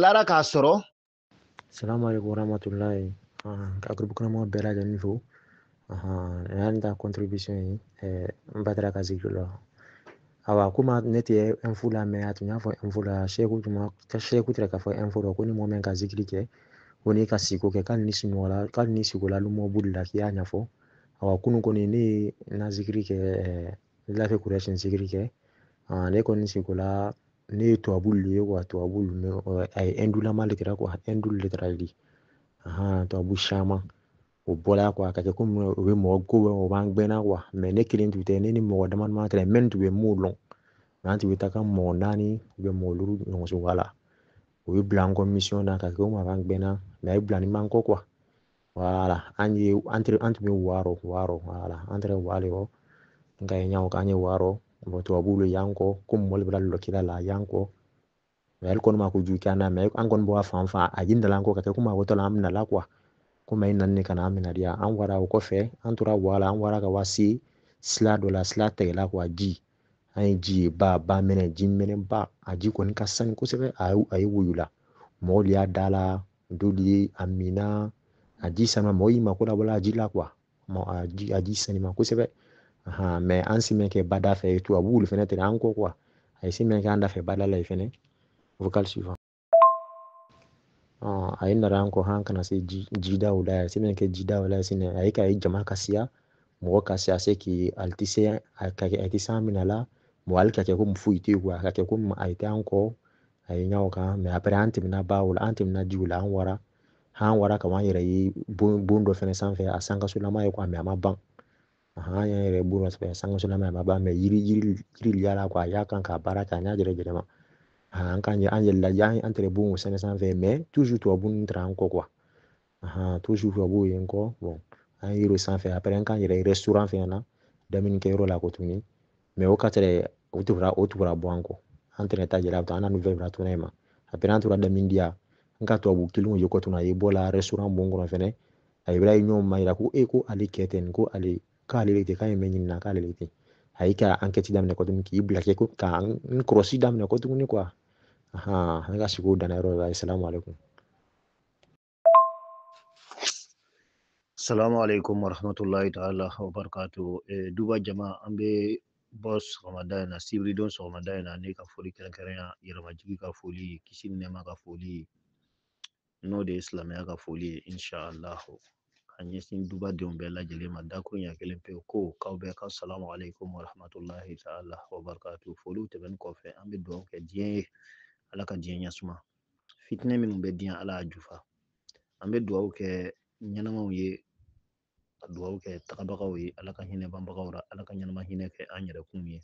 lara k'a sɔrɔ salamu aleykum warahmatulahi ka groupe kɔnɔmaw bɛɛ lajɛlen fo yan ta contribution ye n ba taara ka zikiri la awa komi ne tɛ info la mɛ a tun y'a fɔ info la seku tun ma seku tɛ k'a fɔ info la ko ni mɔgɔ min ka zikiri kɛ ko n'i ka siko kɛ k'ale ni sunɔgɔla k'ale ni sikola lumɔ boli la k'i y'a ɲɛfɔ awa kunu kɔni ne ye n ka zikiri kɛ lafi kurɛsin zikiri kɛ ne kɔni sikola ne ye tubabu lu ye wa tubabu lu mɛ a ye ɛndulama de kɛra kuwa ɛndu lu de kɛra li ahan tubabu caman o bɔla kuwa a ka kɛ komi o bɛ mɔgɔ ko o b'an gbɛnna kuwa mɛ ne kelen tun tɛ ne ni mɔgɔ dama dama kɛra mɛ tun bɛ m'o lɔn nka an tun bɛ taa ka mɔgɔ naani bɛ mɔgɔ duuru ɲɔgɔn soba la o ye bila an kɔ misiyɔn na ka kɛ komi a b'an gbɛnna mɛ a ye bila ni man kɔ kuwa wala an ye an tun bɛ wɔɔrɔ wɔɔrɔ wala an tɛ wɔɔrɔ yɔrɔ nka ye ɲɔgɔn kan an ye wɔɔrɔ mɔgɔ tubabuw bɛ yan kɔ ko mɔli bɛ lɔ kira la yan kɔ mɛ ale kɔni ma kojugu k'an na mɛ an kɔni bɔ fan fan a ye dala ko ka kɛ komi a ko tɔla an bɛna la kuwa komi a ye nanin ka na an minɛ diya an wara o kɔfɛ an tora wala an wara ka wasi sila dɔ la sila tɛgɛla kuwa ji an ye ji ye ba ba minɛ ji minɛ ba a ji kɔni ka sani kosɛbɛ a ye woyo la mɔgɔw y'a da la dɔlu y'a min na a ji saniman mɔgɔ y'i mako labɔla a ji la kuwa a ji a ji saniman kosɛbɛ ahan mɛ an se mɛn kɛ bada fɛ tubabu lu fɛnɛ tɛna an kɔ kuwa a ye se mɛn kɛ an da fɛ bada la ye fɛnɛ vocal suivant a ye nara an kɔ han ka na se jida o la a se mɛn kɛ jida o la sinɛ a ye ka ye jama ka siya mɔgɔ ka siya se k'i ali ti se a ka kɛ a ti san mina la mɔgɔ ali ka kɛ ko foyi tɛ kuwa a ka kɛ ko a ye tɛ an kɔ a ye ɲɔgɔn kan mɛ apre an tɛmɛna ba o la an tɛmɛna ji o la an wara an wara ka an yɛrɛ ye bon dɔ fɛnɛ sanfɛ a sankasolama ye kuwa mɛ a ma ban an y'an yɛrɛ bon dɔ sɛbɛn sankasolama a ma ban mɛ yiri yiri yiri y'a la kuwa a y'a kan k'a baara kɛ a y'a yɛrɛ yɛlɛma an kan an yɛlɛla yan an tɛrɛ bon o sɛnɛ sanfɛ mɛ tuzu tubabu nin taara an kɔ kuwa tuzu tubabu ye n kɔ bɔn an ye yiri sanfɛ apre an k'an yɛrɛ ye restaurant fɛnɛ na damunikɛyɔrɔ la kɔ tuguni mɛ o ka tere o tun wara o tun wara bɔ an kɔ an tɛnɛ ta jɛra an na nouvelle bila tuna ma apre an tora damun diya n ka tubabu kelen o ye kɔ tuna a ye bɔ la restaurant bon kɔnɔ fɛnɛ a ye birayi ɲɔgɔn ma yira ko e ko ale kɛ ten ko ale k'ale le tɛ k'a ye mɛ ɲinina k'ale le tɛ a y'i ka ankɛti daminɛ kɔ tuguni k'i bila kɛ ko ka n kɔrɔsi daminɛ kɔ tuguni kuwa ahan n ka siko o danna yɔrɔ la salamu aleykum Salamu alaikum wa rahmatullahi ta'ala wa barakatu. Eh, duba jama an bɛ bɔ sɔgɔmada in na sibiridon sɔgɔmada in na ne ka foli kɛrɛnkɛrɛnya yɛrɛmajigi ka foli kisi ni nɛɛma ka foli n'o de ye silamɛya ka foli ye inshallahu ka ɲɛsin duba denw bɛɛ lajɛlen ma dakuruɲɛ kelen pewu ko k'aw bɛɛ ka salamu alaikum wa rahmatullahi ta'ala wa barakatu. Foliw tɛmɛnen kɔfɛ an bɛ dugawu kɛ diɲɛ ye ala ka diɲɛ ɲɛsuma fitinɛ minnu bɛ diɲɛ ala y'a jufa an bɛ dugawu kɛ ɲɛnamaw ye ka dugawu kɛ tagabagaw ye ala ka hinɛ banbagaw la ala ka ɲɛnama hinɛ kɛ an yɛrɛkun ye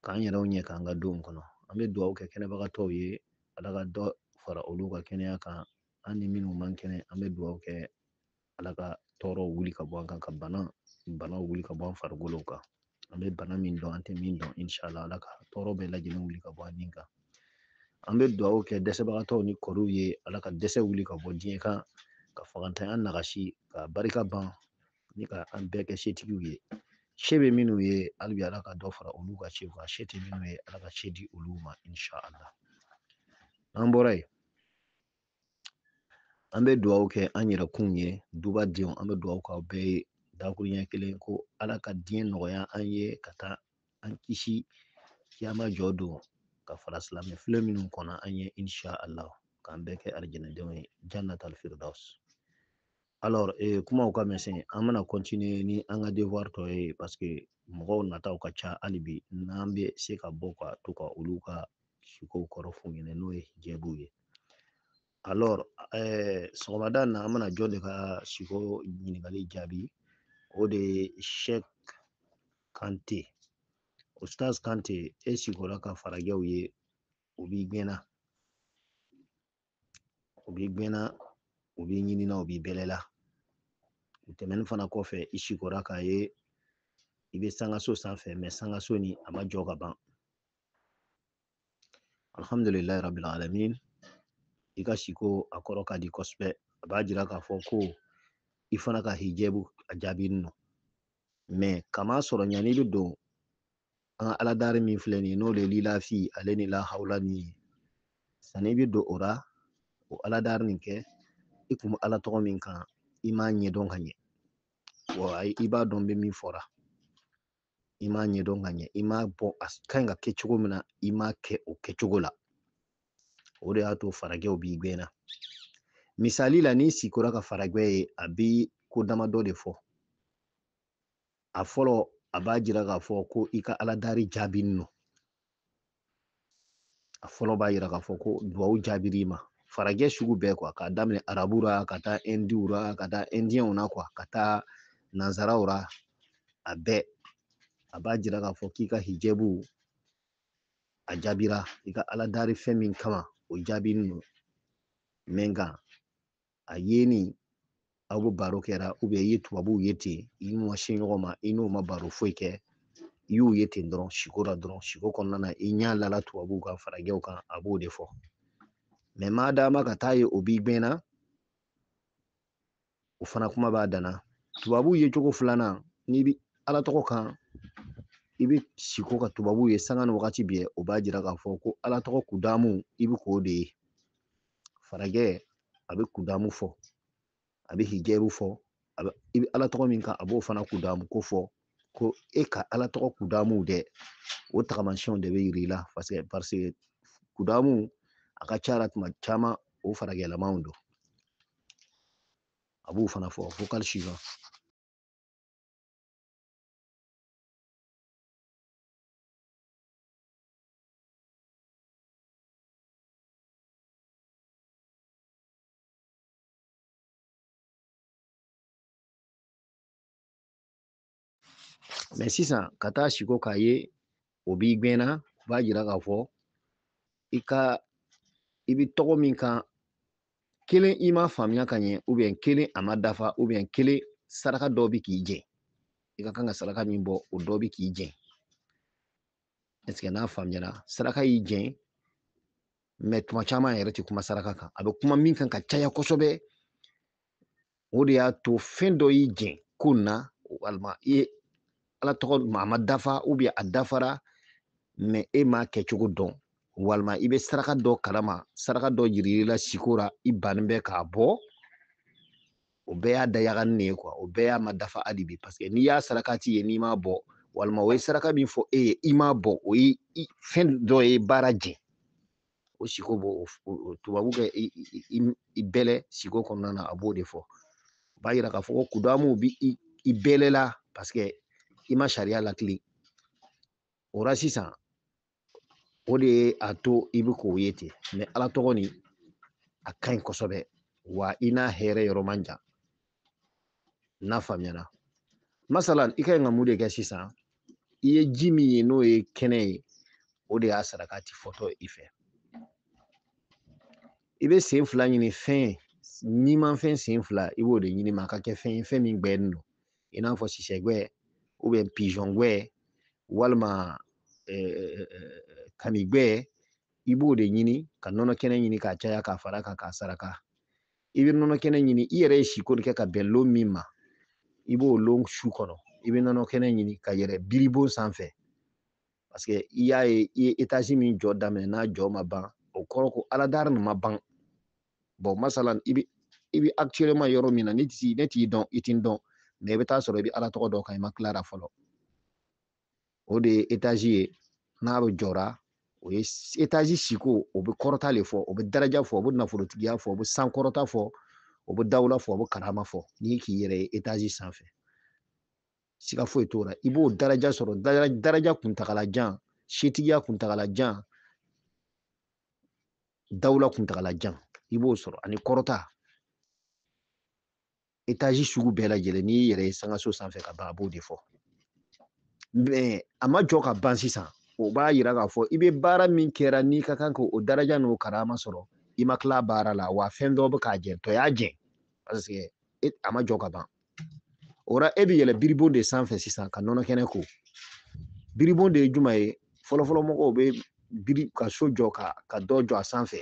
k'an yɛrɛw ɲɛ k'an ka don kɔnɔ an bɛ dugawu kɛ kɛnɛbagatɔw ye ala ka dɔ fara olu ka kɛnɛya kan an ni minnu man kɛnɛ an bɛ dugawu kɛ ala ka tɔɔrɔ wuli ka bɔ an kan ka bana banaw wuli ka bɔ an farikolo kan an bɛ bana min dɔn an tɛ min dɔn inshallah ala ka tɔɔrɔ bɛɛ lajɛlen wuli ka bɔ an ni kan an bɛ dugawu kɛ dɛsɛbagatɔw ni kɔrɔw ye ala ka dɛsɛ wuli ka bɔ diɲɛ kan ka fagantanya nagasi k'a barika ban ni ka an bɛɛ kɛ setigiw ye se bɛ minnu ye hali bi ala ka dɔ fara olu ka sew kan se tɛ minnu ye ala ka se di olu ma inshallah an bɔra yen an bɛ dugawu kɛ an yɛrɛ kun ye dubadenw an bɛ dugawu k'aw bɛɛ ye dakuruɲɛ kelen ko ala ka diɲɛ nɔgɔya an ye ka taa an kisi kiyama jɔ don ka fara silamɛ file minnu kɔnɔ an ye insha allah k'an bɛɛ kɛ alijinɛdenw ye jannatal firdaus alors eh, kumaw ka misɛn an bɛna continuer ni an ka devoir tɔ ye parce que mɔgɔw nataw ka ca hali bi n'an bɛ se ka bɔ ka to ka olu ka sikow kɔrɔ f'u ɲɛna n'o ye hijɛbuw ye alors eh, sɔgɔmada in na an bɛna jɔn de ka siko ɲininkali jaabi o de ye Sheikh Kante Ustaz Kante e sikora ka farajɛw ye u b'i gɛn na u b'i gɛn na u b'i ɲini na u b'i bɛlɛ la u tɛmɛnen fana kɔfɛ i sikora k'a ye i bɛ sangaso sanfɛ mais sangaso nin a ma jɔ ka ban alhamdulilayi rabil alamin i ka siko a kɔrɔ ka di kosɛbɛ a b'a jira k'a fɔ ko i fana ka hijɛbu a jaabinen don mais k'a masɔrɔ yanni i bɛ don an ka aladari min filɛ nin ye n'o de ye lilafi ale ni lahawla nin ye sanni i bɛ don o ra o aladari nin kɛ i kun bɛ ala tɔgɔ min kan i m'a ɲɛdɔn ka ɲɛ wa i b'a dɔn n bɛ min fɔ ra i m'a ɲɛdɔn ka ɲɛ i ma bon a ka ɲi ka kɛ cogo min na i m'a kɛ o kɛcogo la o de y'a to farajɛw b'i gɛn na misali la n'i sikora ka farajɛ ye a bɛ ko damadɔ de fɔ a fɔlɔ a b'a jira k'a fɔ ko i ka ala dari jaabinen don a fɔlɔ b'a jira k'a fɔ ko duwawu jaabira i ma farajɛ sugu bɛɛ quoi k'a daminɛ arabu la ka taa indiw la ka taa indiyɛnw na quoi ka taa nanzaraw la a bɛɛ a b'a jira k'a fɔ k'i ka hijɛbuw a jaabira i ka ala dari fɛn min kama o jaabinin don mɛ nka a ye ni aw bɛ baro kɛra ubiyɛn i ye tubabuw ye ten i n'u ma se ɲɔgɔn ma i n'u ma baro foyi kɛ i y'u ye ten dɔrɔn siko la dɔrɔn siko kɔnɔna na i ɲɛ lala tubabuw kan farajɛw kan a b'o de fɔ mɛ maa dama ka taa ye o b'i gbɛnna o fana kuma b'a dan na tubabuw ye cogo filanan n'i bi ala tɔgɔ kan i bɛ siko ka tubabuw ye sanga ni wagati bɛɛ o b'a jira k'a fɔ ko ala tɔgɔ kudamu i bɛ k'o de ye farajɛ a bɛ kudamu fɔ a bɛ hijɛriw fɔ a bɛ i bɛ ala tɔgɔ min kan a b'o fana kudamu ko fɔ ko e ka ala tɔgɔ kudamuw dɛ o tagamasiyɛnw de bɛ yir'i la paseke paseke kudamu a ka ca la tuma caman o farajɛlamaw don a b'o fana fɔ ko kari si kan mɛ sisan ka taa siko k'a ye o b'i gbɛnna o b'a jira k'a fɔ i ka i bi tɔgɔ min kan kelen i ma faamuya ka ɲɛ ubiyɛn kelen a ma dafa ubiyɛn kelen saraka dɔ bi k'i jɛn i ka kan ka saraka min bɔ o dɔ bi k'i jɛn ɛseke n'a faamuyara saraka y'i jɛn mɛ tuma caman yɛrɛ ti kuma saraka kan a bɛ kuma min kan ka caya kosɛbɛ o de y'a to fɛn dɔ y'i jɛn ko na walima i ye ala tɔgɔ a ma dafa ubiyɛn a dafara mɛ e m'a kɛcogo dɔn walima i bɛ saraka dɔ kalama saraka dɔ yirir'i la siko ra i bannen bɛ k'a bɔ o bɛɛ y'a dayagani de ye kuwa o bɛɛ y'a ma dafa hali bi paseke n'i y'a sarakati ye n'i m'a bɔ walima o ye saraka min fɔ e ye i m'a bɔ o ye fɛn dɔ ye baara jɛn o siko b'o tubabu kɛ i bɛlɛ siko kɔnɔna na a b'o de fɔ o b'a yira k'a fɔ ko kudamuw bi i bɛlɛ la paseke i ma sariya lakili o la sisan o de ye a to i bɛ k'o ye ten mɛ ala tɔgɔ nin a ka ɲi kosɛbɛ wa i n'a hɛrɛ yɔrɔ man jan n'a faamuyara masala i ka ɲi ka mun de kɛ sisan i ye ji min ye n'o ye kɛnɛ ye o de y'a sarakati fɔtɔ i fɛ i bɛ sen fila ɲini fɛn nimanfɛn sen fila i b'o de ɲini mɛ a ka kɛ fɛn ye fɛn min gbɛnin don i n'a fɔ sisɛgbɛ ubiyɛn pizɔngbɛ walima kamigbɛ i b'o de ɲini ka nɔnɔ kɛnɛ ɲini k'a caya k'a fara kan k'a saraka i bɛ nɔnɔ kɛnɛ ɲini i yɛrɛ ye siko nin kɛ ka bɛn lon min ma i b'o lon su kɔnɔ i bɛ nɔnɔ kɛnɛ ɲini ka yɛlɛ biribon sanfɛ parce que i y'a ye i ye etazi min jɔ daminɛ n'a jɔ ma ban o kɔrɔ ko aladari nin ma ban bon masalan i bɛ i bɛ actuellement yɔrɔ min na ne t'i ne t'i dɔn i tɛ n dɔn mɛ i bɛ t'a sɔrɔ i bɛ ala tɔgɔ dɔ kan i ma tila a ra fɔlɔ o de ye etazi ye n'a bɛɛ jɔra o ye etazi siko o bɛ kɔrɔta de fɔ o bɛ daraja fɔ o bɛ nafolotigiya fɔ o bɛ sankɔrɔta fɔ o bɛ dawula fɔ o bɛ karama fɔ n'i k'i yɛrɛ ye etazi sanfɛ siga foyi t'o la i b'o daraja sɔrɔ daraja kuntagala jan setigiya kuntagala jan dawula kuntagala jan i b'o sɔrɔ ani kɔrɔta etazi sugu bɛɛ lajɛlen n'i y'i yɛrɛ ye sankanso sanfɛ ka ban a b'o de fɔ mɛ a ma jɔ ka ban sisan o b'a yira k'a fɔ i bɛ baara min kɛra n'i ka kan k'o daraja n'o karama sɔrɔ i ma tila baara la wa fɛn dɔ bɛ k'a jɛ dɔ y'a jɛ paseke e, a ma jɔ ka ban o la e bɛ yɛlɛ biribon de sanfɛ sisan ka nɔnɔ kɛnɛ ko biribon de ye jumɛn ye fɔlɔfɔlɔ mɔgɔw bɛ biri ka so jɔ ka ka dɔ jɔ a sanfɛ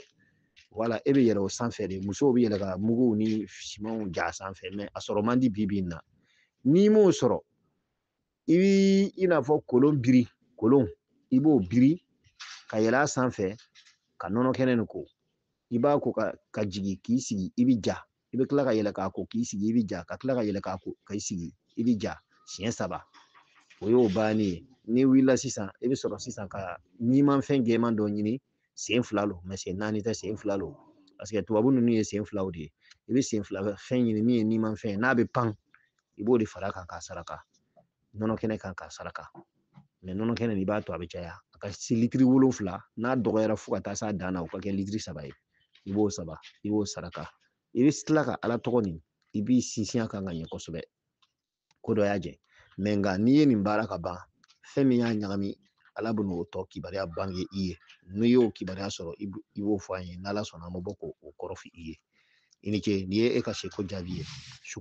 wala e bɛ yɛlɛ o sanfɛ de musow bɛ yɛlɛ ka muguw ni simanw ja sanfɛ mɛ a sɔrɔ man di bi bi in na n'i m'o sɔrɔ i bi i n'a fɔ kolon biri kolon i b'o biri ka yɛlɛ a sanfɛ ka nɔnɔ kɛnɛ nin ko i b'a ko ka jigin k'i sigi i bi ja i bɛ kila ka yɛlɛ k'a ko k'i sigi i bɛ ja ka kila ka yɛlɛ k'a ko ka i sigi i bɛ ja siɲɛ saba o y'o bannen ye n'i wulila sisan i bɛ sɔrɔ sisan ka nimanfɛn gɛman dɔ ɲini sen fila lo mɛ sen naani tɛ sen fila lo paseke tubabu ninnu ye sen filaw de ye i bɛ sen fila fɛn ɲini min ye nimanfɛn ye n'a bɛ pan i b'o de fara a kan k'a saraka nɔnɔ kɛnɛ kan k'a saraka mɛ nɔnɔ kɛnɛ nin i b'a to a bɛ caya a ka se litiri wolonfila n'a dɔgɔyara fo ka taa s'a dan na o ka kɛ litiri saba ye i b'o saba i b'o saraka i bɛ tila ka ala tɔgɔ nin i b'i sinsin a kan ka ɲɛ kosɛbɛ ko dɔ y'a jɛ mɛ nka n'i ye nin baara ka ban fɛn min y'a ɲagami ala bɛ n'o tɔ kibaruya bange i ye n'i y'o kibaruya sɔrɔ i b'o fɔ an ye n'ala sɔnna an bɛ bɔ k'o kɔrɔ fɔ i ye i ni ce nin ye e ka siko jaabi ye su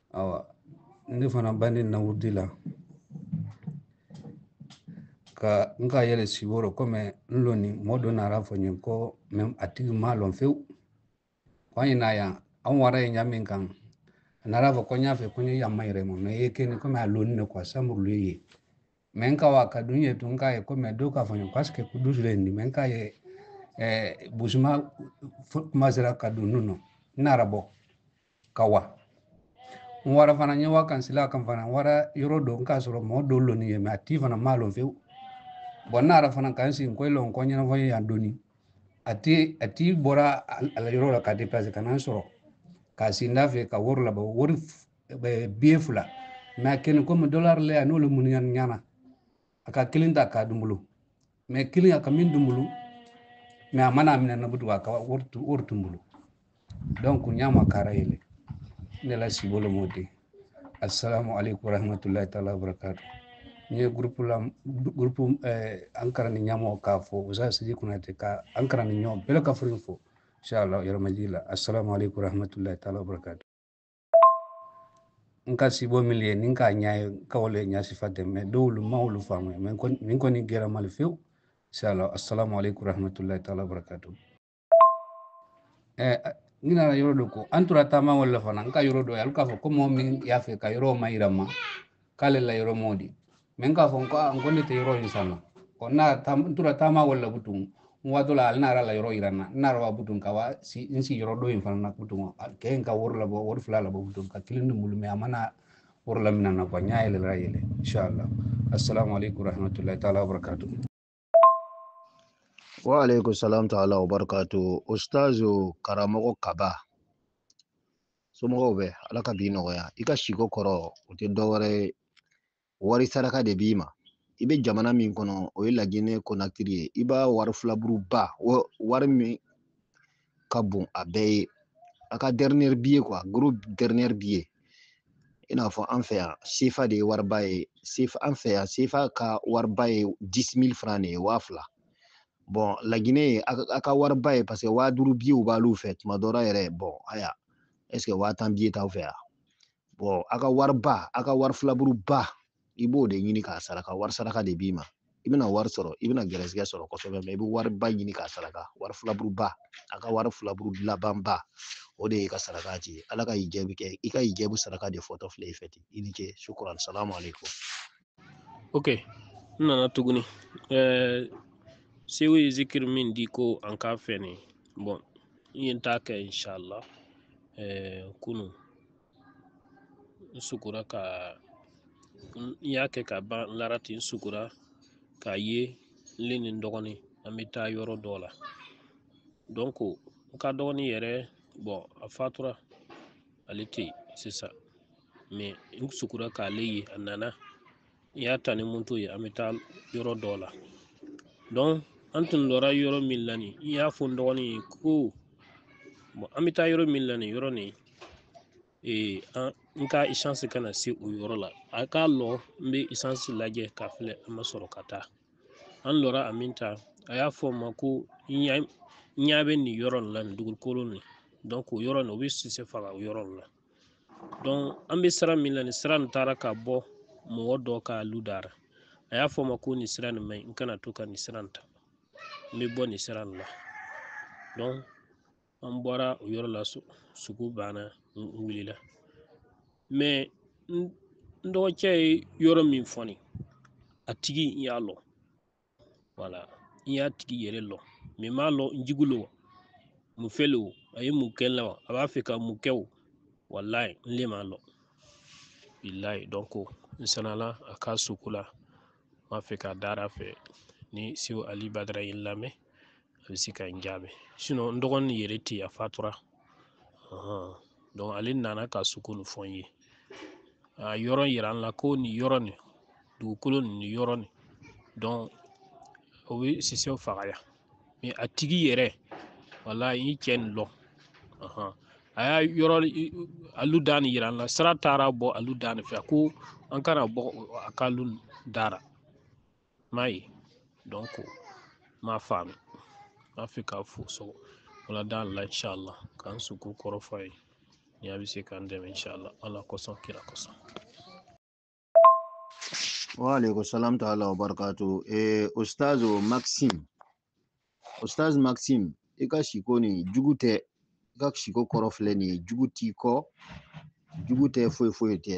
awa ne fana bannin n na wurudi la ka n ka yɛlɛ sibo rɔ kɔmi n lɔni mɔɔ dɔ nara a fɔ n ye ko mɛ a tigi ma lɔn fewu ko an ye na yan an wara ye ɲa min kan a nara fɔ ko n y'a fɛ ko n ye yamma yɛrɛ ma mɛ ye keni kɔmi a lɔni ne kuwa samuru le ye mɛ n ka wa ka dun ye tun k'a ye ko mɛ do ka fɔ n ye paske kudusu le ni mɛ n k'a ye eh, busuma kuma sera ka dun nu nɔ n nara bɔ ka wa n wara fana n ye wa kan sila kan fana n wara yɔrɔ dɔ n k'a sɔrɔ mɔɔ dɔ lɔni ye mɛ a ti fana m'a lɔn fewu bɔn n nara fana ka n sigi koyi lɔn kɔ ɲɛnafɔ ye yan doni a ti a ti bɔra a la yɔrɔ la ka deplase ka na n sɔrɔ ka sii n dafɛ ka wari labɔ wari biye fila mɛ a kɛni komi dɔlari le a n'olu munuyani ɲana a ka kelen ta k'a dun n bolo mɛ kelen a ka min dun n bolo mɛ a ma na a mina n na butun a ka wari dun n bolo donc n ɲa makara yɛlɛ ne la sibo le m'o di assalamu aleykum warahmatullahi taala wabarakatu n ye gurupu la gurupu eh, an karani ɲamɔgɔ k'a fɔ usa sidi kunatɛ ka an karanɲɔgɔn bɛɛ ka furu fo inshallah yɛrɛmajii la assalamu aleykum warahmatullahi taala wabarakatu n ka sibo min ye ni k'a ɲa ye k'o le ɲa sifa tɛ mɛ dɔw olu n ma olu faamu mɛ nin kɔni gɛra n ma le fewu sala assalamu alaikum rahmatullahi taala barakatu eh, n nana yɔrɔ dɔ ko an tora taama wo le la fana n ka yɔrɔ dɔ ye hali k'a fɔ ko mɔgɔ min y'a fɛ ka yɔrɔ wo mayira n ma k'ale la yɔrɔ m'o di mɛ n k'a fɔ n ko n ko ne tɛ yɔrɔ in sanna ɔ nara n tora taama wo le la butun n waatɔ la ale nara a la yɔrɔ yira n na n nara wa butun ka wa se n se yɔrɔ dɔ in fana na butun kɛ in ka wari labɔ wari fila labɔ butun ka kelen dun n bolo mɛ a ma na wari lamina n na quoi n ɲa yɛlɛla yɛlɛ inshallah assalamu alaikum warahmatullahi taala wabarakatuh Wa alaikum salam ta'ala wa barakatu. Ustazu karamɔgɔ kaba. Somɔgɔw bɛ ala ka bi nɔgɔya. I ka siko kɔrɔ o tɛ dɔwɛrɛ ye. Wari saraka de b'i ma. I bɛ jamana min kɔnɔ o ye lajinɛ konakiri ye. I b'a wari filaburuba wari min ka bon a bɛɛ ye a ka dernier billet quoi gros dernier billet i n'a fɔ an fɛ yan sefa de ye wariba ye sefa an fɛ yan sefa ka wariba ye 10000 francs de ye waa fila bon laginɛ ye a ka wariba ye parce que waa duuru billet b'alu fɛ tuma dɔ la yɛrɛ bon aywa est ce que waa tan billet t'aw fɛ yan bon a ka wariba a ka wari filaburuba i b'o de ɲini k'a saraka wari saraka de b'i ma i bɛna wari sɔrɔ i bɛna gɛrɛsɛgɛ sɔrɔ kosɛbɛ mɛ i bɛ wariba ɲini k'a saraka wari filaburuba a ka wari filaburu labanba o de ye ka saraka ti ala ka y'i jaabi kɛ i ka y'i jaabi saraka de fɔtɔ filɛ i fɛ ten i ni ce sukuran salamu aleykum ok n nana tuguni ɛɛ sew ye zikiri min di ko an k'a fɛ nin bɔn n ye n ta kɛ inshallah ɛɛ kunu n sugora ka n y'a kɛ ka ban n lara ten n sugora k'a ye n le ni n dɔgɔnin an bɛ taa yɔrɔ dɔ la donc n ka dɔgɔnin yɛrɛ bɔn a fatura ale tɛ yen sisan mɛ n sugora k'ale ye a nana n y'a ta ni moto ye an bɛ taa yɔrɔ dɔ la donc an tun lɔra yɔrɔ min la nin n y'a fɔ n dɔgɔnin ye ko an bɛ taa yɔrɔ min la nin yɔrɔ nin ee an n ka isansi kana se o yɔrɔ la a ka lɔ n bɛ isansi lajɛ k'a filɛ an ma sɔrɔ ka taa an lɔra a min ta a y'a fɔ n ma ko n ɲa bɛ nin yɔrɔ nin la nin dugukolo nin o yɔrɔ nin o bɛ sisɛ faga o yɔrɔ nin la donc an bɛ sira min na nin sira nin taara ka bɔ mɔgɔ dɔ ka lu da ra a y'a fɔ ma ko nin sira nin maɲi n kana to ka nin sira nin ta n bɛ bɔ nin sira nin la donc an bɔra o yɔrɔ la sugo banna n wulila mɛ n dɔgɔcɛ ye yɔrɔ min fɔ n ye a tigi n y'a lɔ wala n y'a tigi yɛrɛ lɔ mɛ m'a lɔ n jugu lo wa mun fɛn lo a ye mun kɛ n la wa a b'a fɛ ka mun kɛ o walayi n le m'a lɔ bilayi donc n sanala a ka sugo la n b'a fɛ ka dara fɛ ni sew ali badara ye n lamɛn a bɛ se ka n jaabi sinon n dɔgɔnin yɛrɛ tɛ a fatura donc ale nana ka suko nin fɔ n ye a yɔrɔ yira an la ko nin yɔrɔ nin dugukolo nin nin yɔrɔ nin o bɛ sisɛw faga yan mɛ a tigi yɛrɛ wala n ye cɛ nin lɔ a y'a yɔrɔ a lu da nin yira an la sira taara bɔ a lu da nin fɛ ko an kana bɔ a ka lu da ra m'a ye donc m'a faamu n b'a fɛ k'a fɔ so wala da la inshallah ka n suko kɔrɔ fɔ a ye ni a bɛ se k'an dɛmɛ inshallah ala kosɔn kira kosɔn wa alaikum salam ta'ala wa barakatuh eh ustazo maxime Ustaz Maxime, i ka siko nin jugu tɛ i ka siko kɔrɔ filɛ nin ye jugu t'i kɔ jugu tɛ foyi foyi tɛ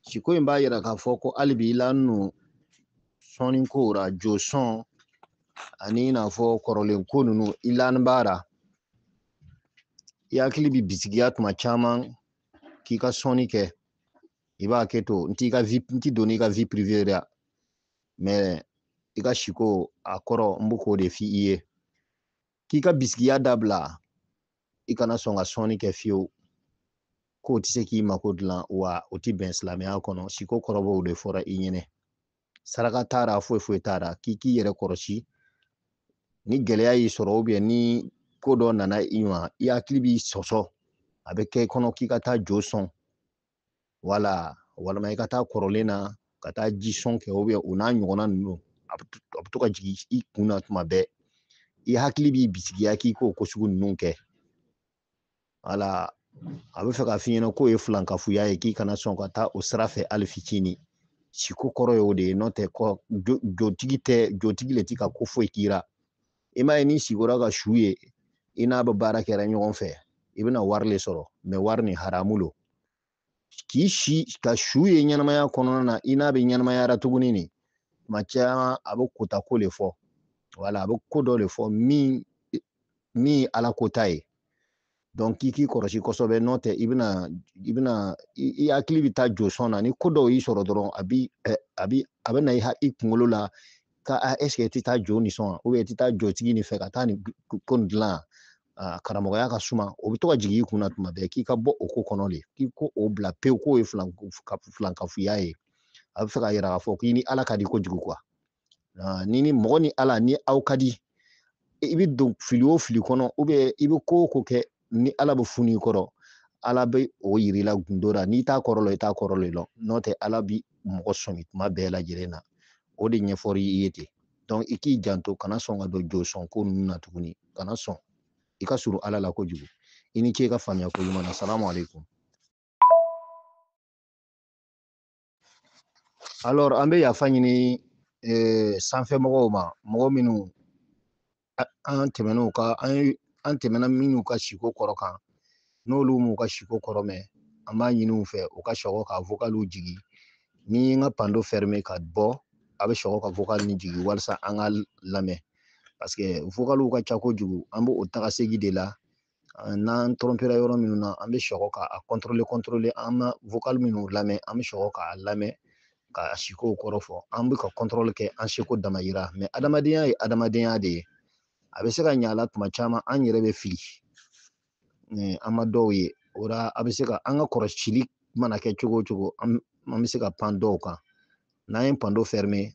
siko in b'a yira k'a fɔ ko hali bi i lanin lo sɔnni kow ra jo sɔn ani i n'a fɔ kɔrɔlen ko ninnu i lanin b'a ra i hakili bɛ bisigiya tuma caman k'i ka sɔnni kɛ i b'a kɛ to n t'i ka vi n ti don i ka vi pirive ra mɛ i ka siko a kɔrɔ n bɛ k'o de f'i ye k'i ka bisigiya dabila i kana sɔn ka sɔnni kɛ fiyewu k'o tɛ se k'i mako dilan wa o tɛ bɛn silamɛya kɔnɔ siko kɔrɔ b'o de fɔra i ɲɛnɛ saraka t'a ra foyi foyi t'a ra k'i k'i yɛrɛ kɔrɔsi ni gɛlɛya y'i sɔrɔ ubiyɛn ni ko dɔ nana i ma i hakili b'i sɔsɔ a bɛ kɛ i kɔnɔ k'i ka taa jo sɔn wala walima i ka taa kɔrɔlen na ka taa ji sɔn kɛ o n'a ɲɔgɔnna ninnu a bɛ to ka jigin i kun na tuma bɛɛ i hakili b'i bisigiya k'i k'o ko sugu ninnu kɛ wala a bɛ fɛ k'a f'i ɲɛna k'o ye filankafoya ye k'i kana sɔn ka taa o sira fɛ hali fitinin siko kɔrɔ ye o de ye n'o tɛ kɔ jotigi tɛ jotigi le ti ka ko foyi k'i la i m'a ye n'i sigora ka su ye i n'a bɛ baara kɛra ɲɔgɔn fɛ i bɛna wari le sɔrɔ mɛ wari nin haramu lo k'i si ka su ye ɲɛnamaya kɔnɔna na i n'a bɛ ɲɛnamayara tuguni nin tuma caman a bɛ kota ko le fɔ wala a bɛ ko dɔ le fɔ min min ye ala kota ye donc k'i k'i kɔlɔsi kosɛbɛ n'o tɛ i bɛna i bɛna i hakili bɛ taa jo sɔn na ni ko dɔw y'i sɔrɔ dɔrɔn a bi a bi a bɛ na i i kunkolo la ka a est-ce que i tɛ taa jo nin sɔn wa i tɛ taa jotigi nin fɛ ka taa nin ko nin dilan a karamɔgɔya ka suma o bɛ to ka jigin i kunna tuma bɛɛ k'i ka bɔ o ko kɔnɔ de k'i ko o bila pewu k'o ye filankafoya ye a bɛ fɛ k'a yira k'a fɔ k'i ni ala ka di kojugu quoi ni ni mɔgɔ ni ala ni aw ka di i bɛ don fili o fili kɔnɔ i bɛ ko o ko kɛ ni ala bɛ funu i kɔrɔ ala bɛ o yir'i la gundo la n'i t'a kɔrɔ lɔn i t'a kɔrɔ lɔn n'o tɛ ala bi mɔgɔ sɔmi kuma bɛɛ lajɛlen na o de ɲɛfɔr'i ye ten donc i k'i janto kana sɔn ka don josɔn ko ninnu na tuguni kana sɔn i ka surun ala la kojugu i ni ce i ka faamuya ko ɲuman na salamu aleykum alors an bɛ yafa ɲini eh, sanfɛ mɔgɔw ma mɔgɔ minnu an tɛmɛn'u ka an ye an tɛmɛna minnu ka siko kɔrɔ kan n'olu m'u ka siko kɔrɔ mɛn an b'a ɲini u fɛ u ka sɔgɔ ka vokaliw jigi ni n ka pando fɛrime ka bɔ a bɛ sɔgɔ ka vokali nin jigi walasa an ka lamɛn parce que vokaliw ka ca kojugu an b'o o taga segi de la n'an tɔrɔmpera yɔrɔ minnu na an bɛ sɔgɔ k'a kɔntɔrɔle kɔntɔrɔle an ma vokali minnu lamɛn an bɛ sɔgɔ k'a lamɛn ka siko kɔrɔ fɔ an bɛ ka kɔntɔrɔli kɛ an seko damayira mɛ adamadenya ye adamadenya de ye a bɛ se ka ɲa a la tuma caman an yɛrɛ bɛ fili an ma dɔw ye o la a bɛ se ka an ka kɔrɔsili mana kɛ cogo o cogo an bɛ se ka pan dɔw kan n'an ye pando fɛrime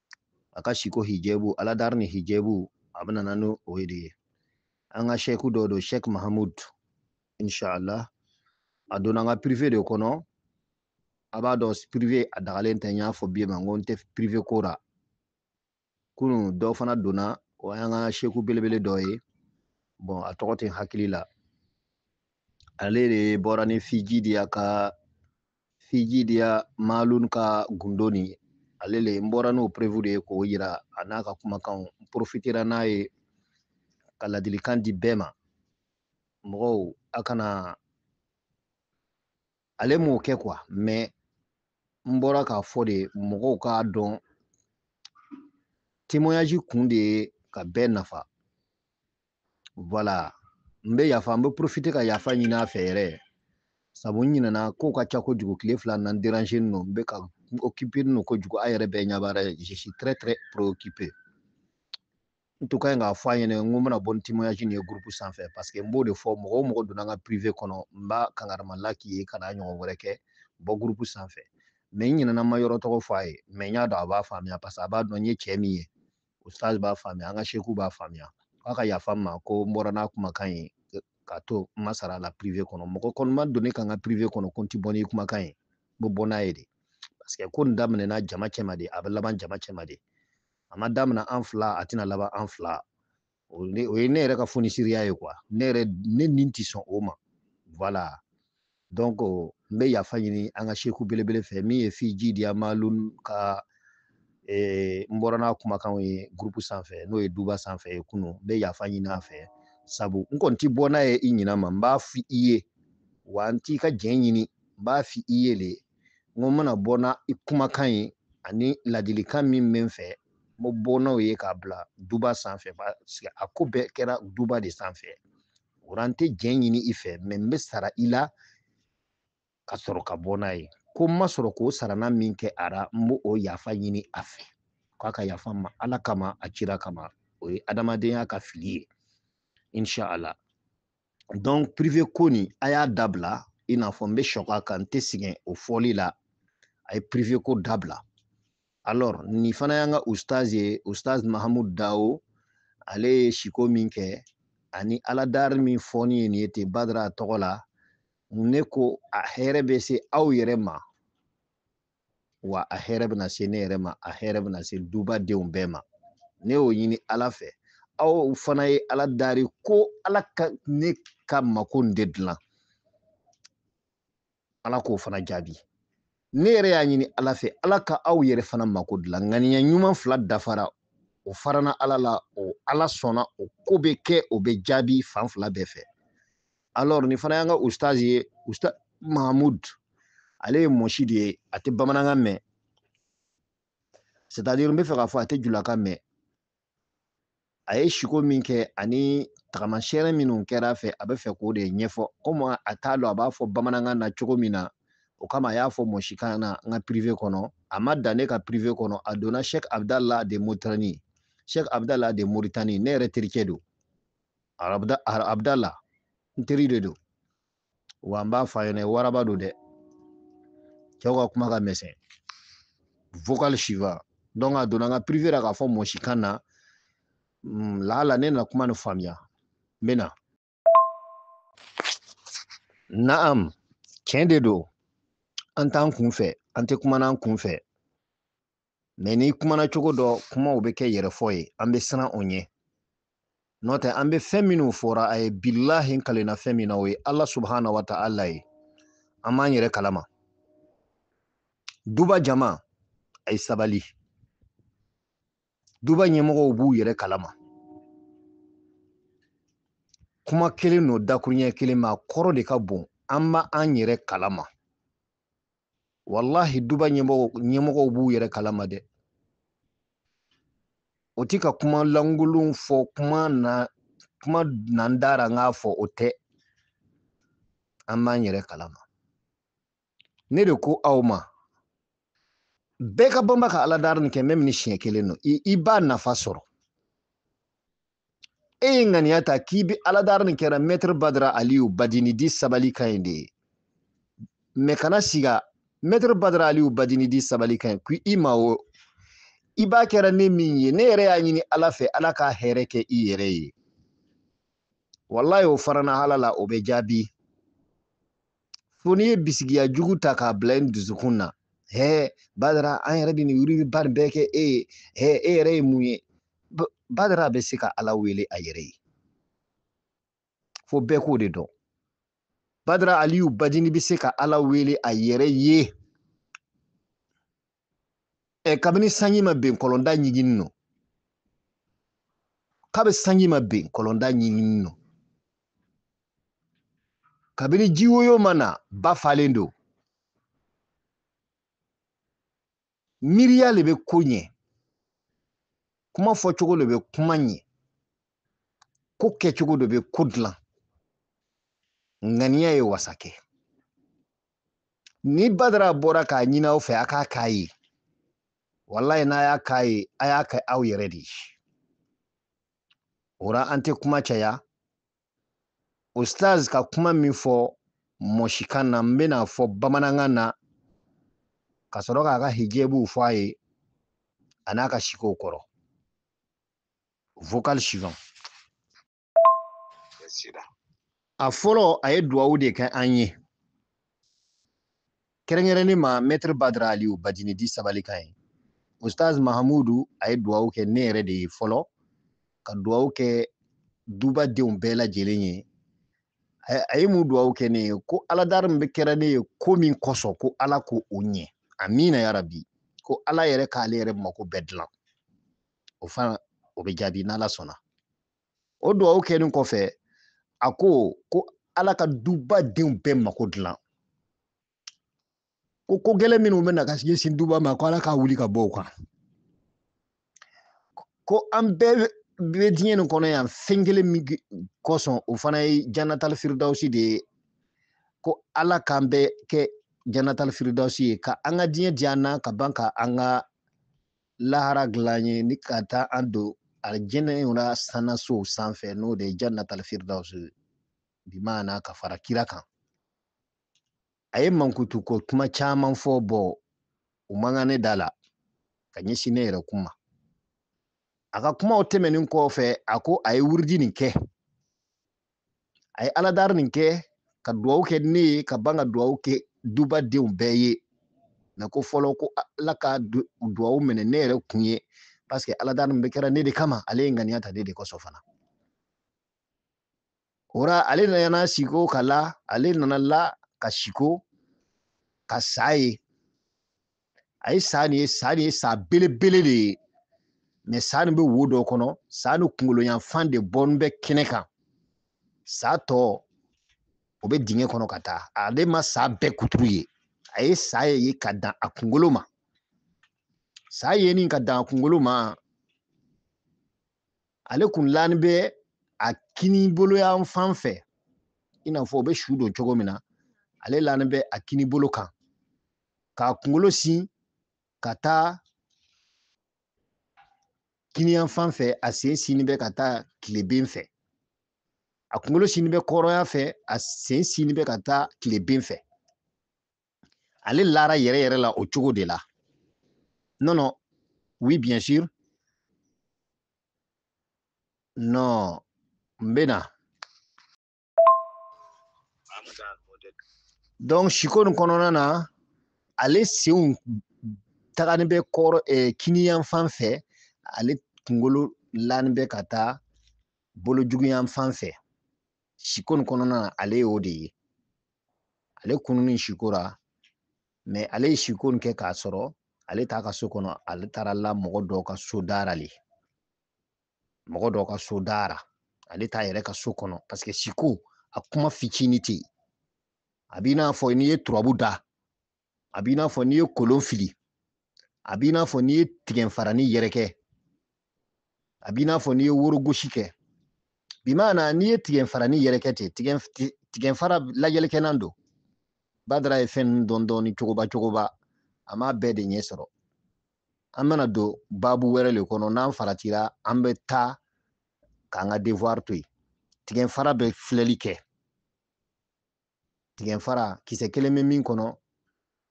a ka siko hijabu aladari ni hijabu a bɛna na n'o o ye de ye an ka sɛku dɔ don sɛk mahamud inshallah a donna an ka privé de kɔnɔ a b'a dɔn privé a dagalen tɛ n y'a fɔ bɛɛ ma n ko n tɛ privé ko ra kunu dɔ fana donna o y'an ka sɛku belebele dɔ ye bon a tɔgɔ tɛ n hakili la ale de bɔra ni fiji de y'a ka fiji diya malun ka gundo nin ale le n bɔra n'o preuve de ye k'o yira a n'a ka kumakanw n profitera n'a ye ka ladilikan di bɛɛ ma mɔgɔw a kana ale m'o kɛ quoi mais n bɔra k'a fɔ de mɔgɔw k'a dɔn témoignage kun de ye ka bɛɛ nafa voilà n bɛ yafa n bɛ profite ka yafa ɲini a fɛ yɛrɛ sabu n ɲinɛna kow ka ca kojugu tile fila na n dérangélen don n bɛ ka n occupélen don kojugu aw yɛrɛ bɛɛ ɲɛ b'a la je suis très très préoccupé n tun ka ɲi k'a fɔ a ɲɛna n ko n bɛna bɔ ni témoignage nin ye groupe sanfɛ parce que n b'o de fɔ mɔgɔ o mɔgɔ donna n ka privé kɔnɔ n b'a kangarima la k'i ye kan'a ɲɔgɔn wɛrɛ kɛ bɔ groupe sanfɛ mais n ɲinɛna n ma yɔrɔ tɔgɔ fɔ a ye mais n y'a dɔn a b'a faamuya parce que a b'a dɔn n ye cɛ min ye ustaz b'a faamuya an ka seku b'a faamuya k'a ka yafa n ma ko n bɔra n'a kumakan ye k'a to n ma sara a la privé kɔnɔ mɔgɔ kɔni ma don ne ka n ka privé kɔnɔ ko n ti bɔ n'i kumakan ye n bɛ bɔ n'a ye de parce que ko nin daminɛna jama cɛma de a bɛ laban jama cɛma de a ma daminɛ an fila a tɛna laban an fila o ye ne yɛrɛ ka fonisiriya ye quoi ne yɛrɛ ne ni tɛ sɔn o ma voilà donc n bɛ yafa ɲini an ka seku belebele fɛ min ye fiji di amalun ka eh, n bɔra n'a kumakanw ye groupe sanfɛ n'o ye duba sanfɛ ye kunu n bɛ yafa ɲini a fɛ sabu n kɔni tɛ bɔ n'a ye i ɲinan ma n b'a fɔ i ye wa n t'i ka jɛn ɲini n b'a fɔ i ye le n ko n mana bɔ n'a i kumakan ye ani ladilikan min bɛ n fɛ n bɛ bɔ n'o ye k'a bila duba sanfɛ a ko bɛɛ kɛra duba de sanfɛ o ra n tɛ jɛn ɲini i fɛ mais n bɛ sara i la ka sɔrɔ ka bɔ n'a ye ko n ma sɔrɔ k'o sarana min kɛ a ra n bɛ o yafa ɲini a fɛ k'a ka yafa n ma ala kama a cira kama o ye adamadenya ka fili ye inshallah donc privé ko nin a y'a dabila i n'a fɔ n bɛ sɔgɔ a kan n tɛ sɛgɛn o fɔli la a ye privé ko dabila alors nin fana y'an ka ustaz ye ustaz mahamud dawo ale ye siko min kɛ ani aladari min fɔni ye nin ye ten badara tɔgɔ la ne ko a hɛrɛ bɛ se aw yɛrɛ ma wa a hɛrɛ bɛna se ne yɛrɛ ma a hɛrɛ bɛna se duba denw bɛɛ ma ne y'o ɲini ala fɛ aw fana ye ala dari ko ala ka ne ka mako de dilan ala k'o fana jaabi ne yɛrɛ y'a ɲini ala fɛ ala ka aw yɛrɛ fana mako dilan ŋaniya ɲuman fila dafara o farana ala la o ala sɔnna o ko bɛ kɛ o bɛ jaabi fan fila bɛɛ fɛ alors nin fana y'an ka ustaz ye ustaz mahamud ale ye mɔsi de ye a tɛ bamanankan mɛn c'est à dire n b'a fɛ k'a fɔ a tɛ julakan mɛn a ye siko min kɛ ani tagamasɛyɛrɛ minnu kɛra a fɛ a bɛ fɛ k'o de ɲɛfɔ komi a t'a dɔn a b'a fɔ bamanankan na cogo min na o kama a y'a fɔ mɔsikan na n ka privé kɔnɔ a ma dan ne ka privé kɔnɔ a donna sɛk abudala de moritani sɛk abudala de moritani ne yɛrɛ terikɛ don abudala n teri de don wa an b'a fɔ a ɲɛna waraba don dɛ cɛw ka kuma ka misɛn vocal suivant donc a donna n ka privé la k'a fɔ mɔsikan na mm, laala ne na kuma ni faamuya n bɛ na naam tiɲɛ de don an t'an kun fɛ an tɛ kumana an kun fɛ mɛ n'i kumana cogo dɔ kumaw bɛ kɛ yɛrɛfɔ ye an bɛ siran o ɲɛ n'o tɛ an bɛ fɛn minnu fɔra aw ye bilahi n kalenna fɛn min na o ye ala subahana wa taala ye an b'an yɛrɛ kalama duba jama a ye sabali duba ɲɛmɔgɔw b'u yɛrɛ kalama kuma kelen n'u dakuruɲɛ kelen ma kɔrɔ de ka bon an b'an yɛrɛ kalama walahi duba ɲɛmɔgɔ ɲɛmɔgɔw b'u yɛrɛ kalama dɛ u ti ka kuma lankolon fɔ kuma na kuma na n da ra n k'a fɔ o tɛ an b'an yɛrɛ kalama ne de ko aw ma bɛɛ ka banba ka aladari nin kɛ même ni siɲɛ kelen don i b'a nafa sɔrɔ e ye ŋaniya ta k'i bɛ aladari nin kɛra mɛtiri badara aliyu badini di sabali ka ɲi de ye mɛ kana siga mɛtiri badara aliyu badini di sabali ka ɲi ko i ma o i b'a kɛra ne min ye ne yɛrɛ y'a ɲini ala fɛ ala ka hɛrɛ kɛ i yɛrɛ ye walayi o farana ala la o bɛ jaabi fo n'i ye bisigiya jugu ta k'a bila i dusukun na hɛ badara an yɛrɛ bɛ nin wiridiba nin bɛɛ kɛ e ye hɛ e yɛrɛ ye mun ye badara bɛ se ka ala wele a yɛrɛ ye fo bɛɛ k'o de dɔn badara aliyu badini bɛ se ka ala wele a yɛrɛ ye ɛ kabini sanji ma ben kɔlɔnda ɲiginnin don kabi sanji ma ben kɔlɔnda ɲiginnin don kabini jiwoyo ma na ba falen don miiriya le bɛ ko ɲɛ kuma fɔcogo le bɛ kuma ɲɛ ko kɛcogo dɔ bɛ ko dilan ŋaniya ye wasa kɛ ni badara bɔra k'a ɲini aw fɛ a k'a k'a ye walayi n'a y'a k'a ye a y'a kɛ aw yɛrɛ de ye o la an tɛ kuma caya ustaz ka kuma min fɔ mɔsikan na n bɛna a fɔ bamanankan na ka sɔrɔ k'a ka hijabuw fɔ a ye an'a ka sikow kɔrɔ vocal suivant a fɔlɔ a ye duwawu de kɛ an ye kɛrɛnkɛrɛnnen ma mɛtiri badara aliyu badini di sabali ka ɲi ustaz mahamudu a ye duwawu kɛ ne yɛrɛ de ye fɔlɔ ka duwawu kɛ duba denw bɛɛ lajɛlen ye a ye mun duwawu kɛ ne ye ko aladari min bɛ kɛra ne ye ko min kosɔn ko ala k'o ɲɛ amina yarabi ko ala yɛrɛ k'ale yɛrɛ mako bɛɛ dilan o fana o bɛ jaabi n'ala sɔnna o dugawu kɛlen kɔfɛ a ko ko ala ka duba denw bɛɛ mako dilan ko ko gɛlɛn min bɛ na ka ɲɛsin duba ma ko ala k'a wuli ka bɔ u kan ko an bɛɛ bɛ diɲɛ nin kɔnɔ yan fɛn kelen min kosɔn o fana ye janatali firidawusi de ye ko ala k'an bɛɛ kɛ janatali firidawusi ye ka an ka diɲɛ diya an na ka ban ka an ka lahara dilan ye ni ka taa an don alijinɛ in na sanasow sanfɛ n'o de ye jannatal firdaus bi maana ka fara kira kan a ye mankutu ko kuma caman fɔ bon u man kan ne da la ka ɲɛsin ne yɛrɛ kuma a ka kumaw tɛmɛnen kɔfɛ a ko a ye wurudi nin kɛ a ye aladari nin kɛ ka duwawu kɛ ne ye ka ban ka duwawu kɛ duba denw bɛɛ ye mɛ ko fɔlɔ ko ala ka duwawu minɛ ne yɛrɛ kun ye paseke aladari nin bɛ kɛra ne de kama ale ye ŋaniya ta ne de kosɔn fana o ra ale nana siko ka la ale nana la ka siko ka sa ye a ye sa nin ye sa nin ye sa belebele de ye mɛ sa nin bɛ wo dɔ kɔnɔ sa nin kunkolo yanfan de bɔnin bɛ kɛnɛ kan sa tɔ o bɛ dingɛ kɔnɔ ka taa ale ma sa bɛɛ kuturu ye a ye sa ye ka dan a kunkolo ma sa yenin ka dan a kunkolo ma ale kun lanin bɛ a kinibolo yanfan fɛ i n'a fɔ u bɛ su don cogo min na ale lanin bɛ a kinibolo kan k'a kunkolo sin ka taa kiniyan fan fɛ a sen sinni bɛ ka taa tileben fɛ a kunkolo sinni bɛ kɔrɔn yan fɛ a sen sinni bɛ ka taa tileben fɛ ale lara yɛrɛ yɛrɛ la o cogo de la non non oui bien sûr non n bɛ na donc siko nin kɔnɔna na ale senw tagani bɛ kɔrɔ eh, kiniyan fan fɛ ale kunkolo lani bɛ ka taa bolo juguyan fan fɛ siko nin kɔnɔna na ale ye o de ye ale kununi siko ra mais ale ye siko nin kɛ k'a sɔrɔ ale t'a ka so kɔnɔ ale taara la mɔgɔ dɔ ka so da ra le mɔgɔ dɔ ka so da ra ale t'a yɛrɛ ka so kɔnɔ parce que siko a kuma fitini tɛ yen a b'i n'a fɔ n'i ye turabu da a b'i n'a fɔ n'i ye kolon fili a b'i n'a fɔ n'i ye tigɛnfarani yɛrɛkɛ a b'i n'a fɔ n'i ye worogosi kɛ bi maana n'i ye tigɛnfarani yɛrɛkɛ ten tigɛnfara lajɛlikɛlan don badara ye fɛn ninnu dɔn dɔɔni cogoba cogoba a m'a bɛɛ de ɲɛ sɔrɔ an bɛna don baabu wɛrɛ le kɔnɔ n'an faratira an bɛ taa k'an ka devoir to yen tigɛnfara bɛ filɛli kɛ tigɛnfara kisɛ kelen bɛ min kɔnɔ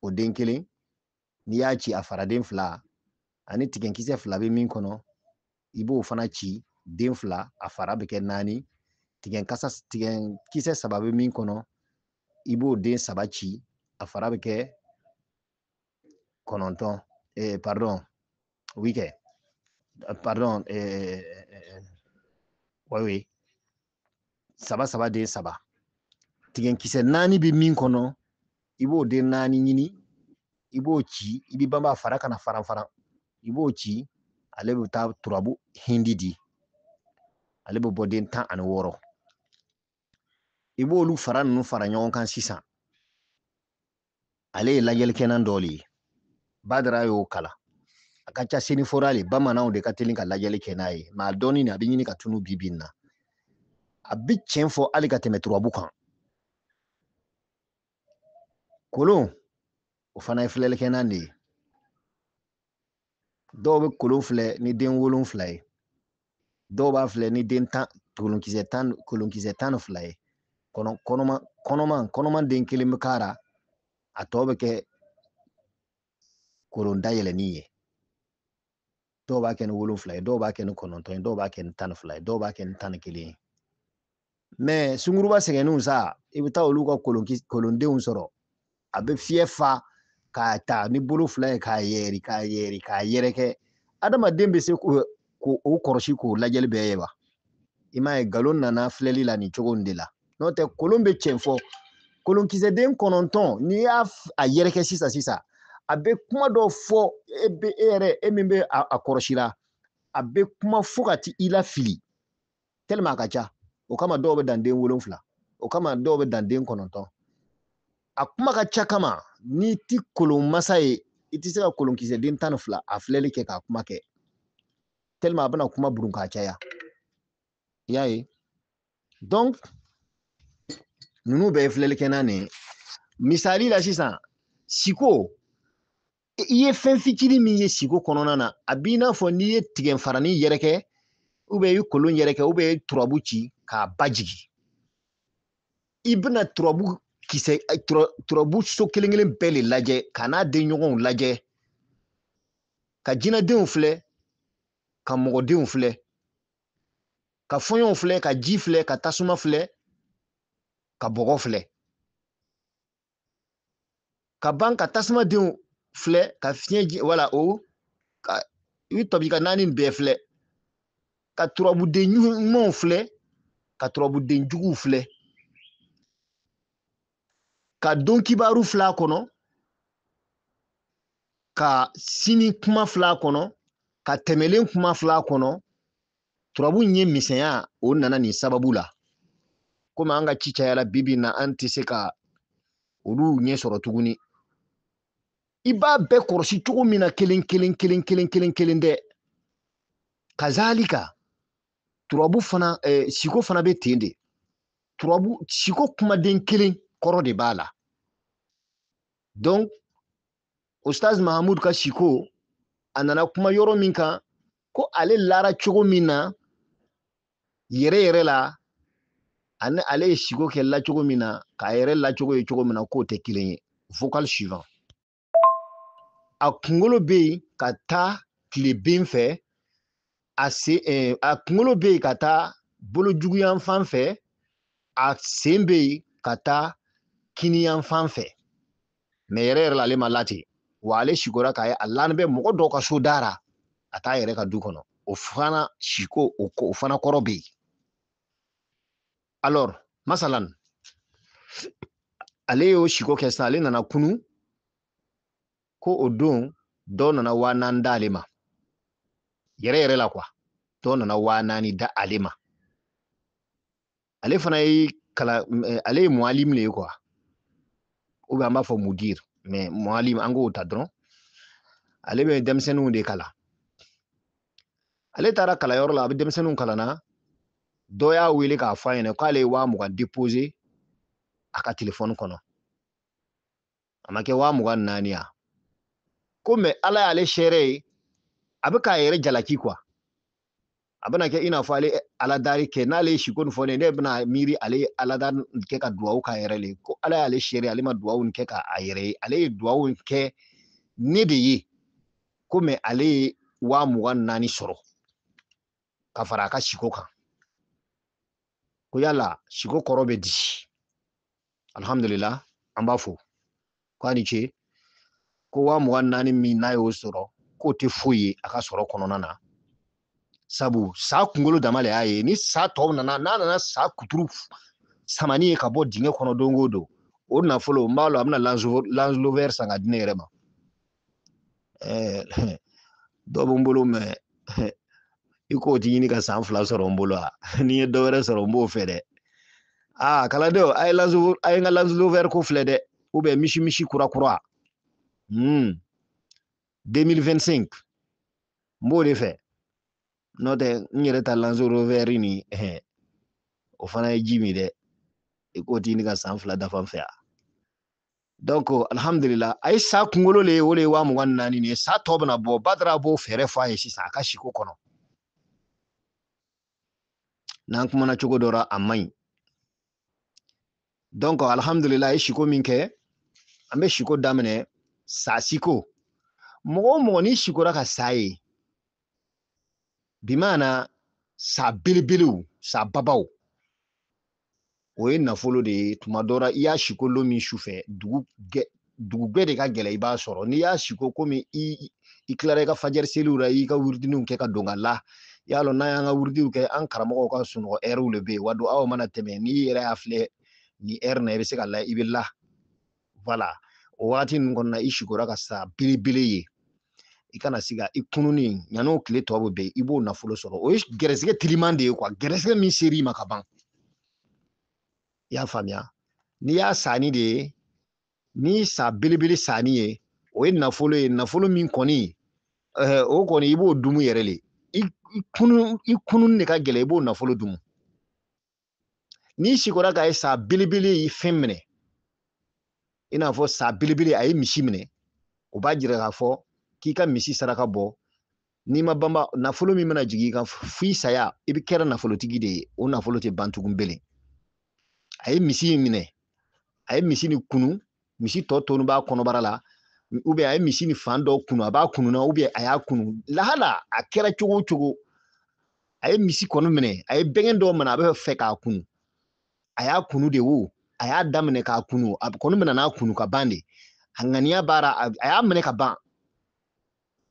o den kelen n'i y'a ci a fara den fila ani tigɛnkisɛ fila bɛ min kɔnɔ i b'o fana ci den fila a fara bɛ kɛ naani tigɛn kasa tigɛn kisɛ saba bɛ min kɔnɔ i b'o den saba ci a fara bɛ kɛ kɔnɔntɔn eh, pardon oui kɛ pardon eh, eh, oui oui saba saba den saba tigɛnkisɛ naani bɛ min kɔnɔ i b'o den naani ɲini i b'o ci i b'i banba fara kana faran faran i b'o ci ale bɛ taa turabu hindi di ale bɛ bɔ den tan ani wɔɔrɔ i b'olu fara ninnu fara ɲɔgɔn kan sisan ale ye lajɛlikɛnan dɔ le ye badara y'o kalan a ka ca senufo ra le bamananw de ka teli ka lajɛli kɛ n'a ye mais a dɔnni a bɛ ɲini ka tunu bi bi in na a bɛ tiɲɛ fɔ hali ka tɛmɛ turabu kan kolon o fana ye filɛlikɛnan de ye dɔw bɛ kolon filɛ ni den wolonfila ye dɔw b'a filɛ ni den tan kolonkisɛ tan kolonkisɛ tan ni fila ye kɔnɔ kɔnɔma kɔnɔma kɔnɔma den kelen bɛ k'a ra a tɔ bɛ kɛ kolon dayɛlɛni ye dɔw b'a kɛ ni wolonfila ye dɔw b'a kɛ ni kɔnɔntɔn ye dɔw b'a kɛ ni tan ni fila ye dɔw b'a kɛ ni tan ni kelen ye mɛ sunguruba sɛgɛnnenw sa i bɛ taa olu ka kolondenw sɔrɔ a bɛ fiɲɛ fa k'a ta ni bolo fila ye k'a yɛri k'a yɛri k'a yɛrɛkɛ adamaden bɛ se k'o kɔrɔsi k'o lajɛli bɛɛ ye wa i m'a ye nkalon nana filɛli la nin cogo in de la n'o tɛ kolon bɛ cɛn fɔ kolonkisɛden kɔnɔntɔn n'i y'a a yɛrɛkɛ sisan sisan a bɛ kuma dɔ fɔ e bɛ e yɛrɛ e min bɛ a kɔrɔsi la a bɛ kuma fo ka t'i lafili tɛlima a ka ca o kama dɔw bɛ dan den wolonfila o kama dɔw bɛ dan den kɔnɔntɔn a kuma ka ca kama n'i ti kolon masa ye i tɛ se ka kolonkisɛ den tan ni fila a filɛli kɛ k'a kuma kɛ tɛlima a bɛna kuma burun k'a caya i y'a ye donc ninnu bɛɛ ye filɛlikɛnan de ye misali la sisan siko i ye fɛn fitinin min ye siko kɔnɔna na a b'i n'a fɔ n'i ye tigɛfarani yɛrɛkɛ ubiyɛn i ye kolon yɛrɛkɛ ubiyɛn i ye turabu ci k'a ba jigin i bɛna turabu kisɛ turabu so kelen kelen bɛɛ le lajɛ ka n'a denɲɔgɔnw lajɛ ka jinadenw filɛ ka mɔgɔdenw filɛ ka fɔɲɔw filɛ ka ji filɛ ka tasuma filɛ ka bɔgɔ filɛ ka ban ka tasuma denw filɛ ka fiɲɛ ji wala o ka i bɛ tɔbi ka naani bɛɛ filɛ ka turabuden ɲumanw filɛ ka turabuden juguw filɛ ka don kibaru fil'a kɔnɔ ka sini kuma fil'a kɔnɔ ka tɛmɛlen kuma fil'a kɔnɔ turabu ɲɛ misɛnya o nana nin sababu la komi an ka ci cayala bibi na an tɛ se ka olu ɲɛ sɔrɔ tuguni i b'a bɛɛ kɔrɔsi cogo min na kelen kelen kelen kelen kelen kelen dɛ kazalika turabu fana eh, siko fana bɛ ten de turabu siko kumaden kelen kɔrɔ de b'a la donc ustaz mahamud ka siko a nana kuma yɔrɔ min kan ko ale lara cogo min na yɛrɛ yɛrɛ la ani ale ye siko kɛ lacogo min na k'a yɛrɛ lacogo ye cogo min na k'o tɛ kelen ye vocal suivant a kunkolo bɛ yen ka taa tileben fɛ a se eh, a kunkolo bɛ yen ka taa bolojuguyanfan fɛ a sen bɛ yen ka taa kininyanfan fɛ mɛ yɛrɛ yɛrɛ la ale ma la ten wa ale sikora k'a ye a lalen bɛ mɔgɔ dɔ ka so da ra a t'a yɛrɛ ka du kɔnɔ o fana siko o ko o fana kɔrɔ bɛ yen alors masalan ale y'o siko kɛ sisan ale nana kunun ko o don dɔ nana waa naani da ale ma yɛrɛ yɛrɛ la kuwa dɔ nana waa naani da ale ma ale fana ye kala eh, ale ye mualim le ye kuwa u bɛ an b'a fɔ mudir mɛ mualim an k'o ta dɔrɔn ale bɛ denmisɛnninw de kalan ale taara kalanyɔrɔ la a bɛ denmisɛnninw kalan na dɔ y'a wele k'a fɔ a ɲɛna k'ale ye waa mugan depose a ka telefɔni kɔnɔ a ma kɛ waa mugan naani ya ko mɛ ala y'ale seere ye a bɛ k'a yɛrɛ jalaki kuwa a bɛna kɛ i n'a fɔ ale aladari kɛ n'ale ye siko nin fɔ ne ne bɛna miiri ale ye aladari kɛ ka duwawu k'a yɛrɛ ye ko ala y'ale seere ale ma duwawu kɛ k'a yɛrɛ ye ale ye duwawu kɛ ne de ye ko mɛ ale ye waa mugan naani sɔrɔ ka fara a ka siko kan ko yala siko kɔrɔ bɛ di alhamdulillah an b'a fo k'a ni ce ko waa mugan naani min n'a y'o sɔrɔ k'o tɛ foyi ye a ka sɔrɔ kɔnɔna na sabu sa kunkolo dama le y'a ye ni sa tɔ nana n'a nana sa kuturu samani ye ka bɔ dingɛ kɔnɔ donc o don o nafolo n b'a lɔn a bɛna lanzlovɛri san ka di ne yɛrɛ ma dɔ bɛ n bolo mɛ i k'o ti ɲini ka san fila sɔrɔ n bolo a n'i ye dɔ wɛrɛ sɔrɔ n b'o fɛ dɛ aa kalandenw a ye lanzuru a ye n ka lanzlovɛri ko filɛ dɛ u bɛ misi misi kura kura hmm. 2025 n b'o de fɛ n'o tɛ n yɛrɛ ta lanzlovɛri nin o fana ye ji min dɛ i k'o ti ɲini ka san fila dafa n fɛ yan donc alhamdulila a ye sa kunkolo le ye o le ye waa mugan ni naani nin ye sa tɔ bɛna bɔ badara b'o fɛɛrɛ fɔ a ye sisan a ka siko kɔnɔ n'an kumana cogo dɔ la a man ɲi donc alhamdulila a ye siko min kɛ an bɛ siko daminɛ sa siko mɔgɔ o mɔgɔ n'i sikora ka sa ye bi maana sa belebelew sa babaw o ye nafolo de ye tuma dɔ la i y'a siko lon min su fɛ dugu dugu gwɛ de ka gɛlɛn i b'a sɔrɔ n'i y'a siko komi i i tilara i ka fajɛri seli la i y'i ka wuridiniw kɛ ka don ka la i y'a lɔn n'an y'an ka wuridiw kɛ an karamɔgɔw ka sunɔgɔ ɛriw le bɛ yen wa don aw mana tɛmɛ n'i yɛrɛ y'a filɛ nin ɛri na i bɛ se ka la i bɛ la wala o wagati ninnu kɔnɔna i sikora ka sa belebele ye i kana siga i kununi yan'o tile tɔ bɛ bin i b'o nafolo sɔrɔ o ye gɛrɛsɛgɛ teliman de ye kuwa gɛrɛsɛgɛ min ser'i ma ka ban i y'a faamuya n'i y'a sanin de ye ni sa belebele sanin ye o ye nafolo ye nafolo min kɔni eh, o kɔni i b'o dumu yɛrɛ le i kunun de ka gɛlɛn i b'o nafolo dumu n'i sikora k'a ye sa belebele ye fɛn minɛ i n'a fɔ sa belebele a ye misi minɛ o b'a jira k'a fɔ k'i ka misi saraka bɔ n'i ma banba nafolo min bɛna jigin i kan f'i saya i bɛ kɛra nafolotigi de ye o nafolo tɛ ban tugun belen a ye misi in minɛ a ye misi ni kunu misi tɔ tonu b'a kɔnɔbara la ou bien a ye misi ni fan dɔ kunu a b'a kununa ou bien a y'a kunu lahala a kɛra cogo o cogo a ye misi kɔni minɛ a ye bɛgɛn dɔ minɛ a bɛ fɛ k'a kunu a y'a kunu de wo a y'a daminɛ k'a kunu a kɔni minɛ n'a kunu ka ban de a ŋaniya b'a ra a y'a minɛ ka ban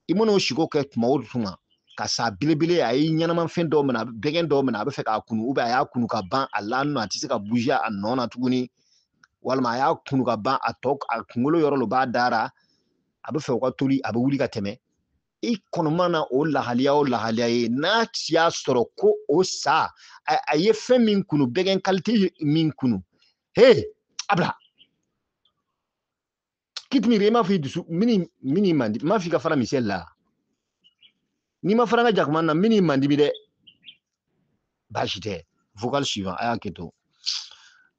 i mana o siko kɛ tuma o tuma ka sa belebele a ye ɲɛnamafɛn dɔ minɛ a bɛgɛn dɔ minɛ a bɛ fɛ k'a kunu ou bien a y'a kunu ka ban a lanin a tɛ se ka bouger a nɔ na tuguni walima a y'a kunu ka ban a tɔ a kunkolo yɔrɔ lo b'a da ra a bɛ fɛ u ka toli a bɛ wuli ka tɛmɛ i kɔni mana o lahaliya o lahaliya ye n'a y'a sɔrɔ ko o sa a ye fɛn min kunu bɛgɛn kalite min kunu he a bila kitmiri i m'a fɔ i dusu min min man di m'a fɔ i ka fara misɛli la n'i ma fara n ka jakuma na n b'i mandimi dɛ baasi tɛ vocal suivant a ye hakɛto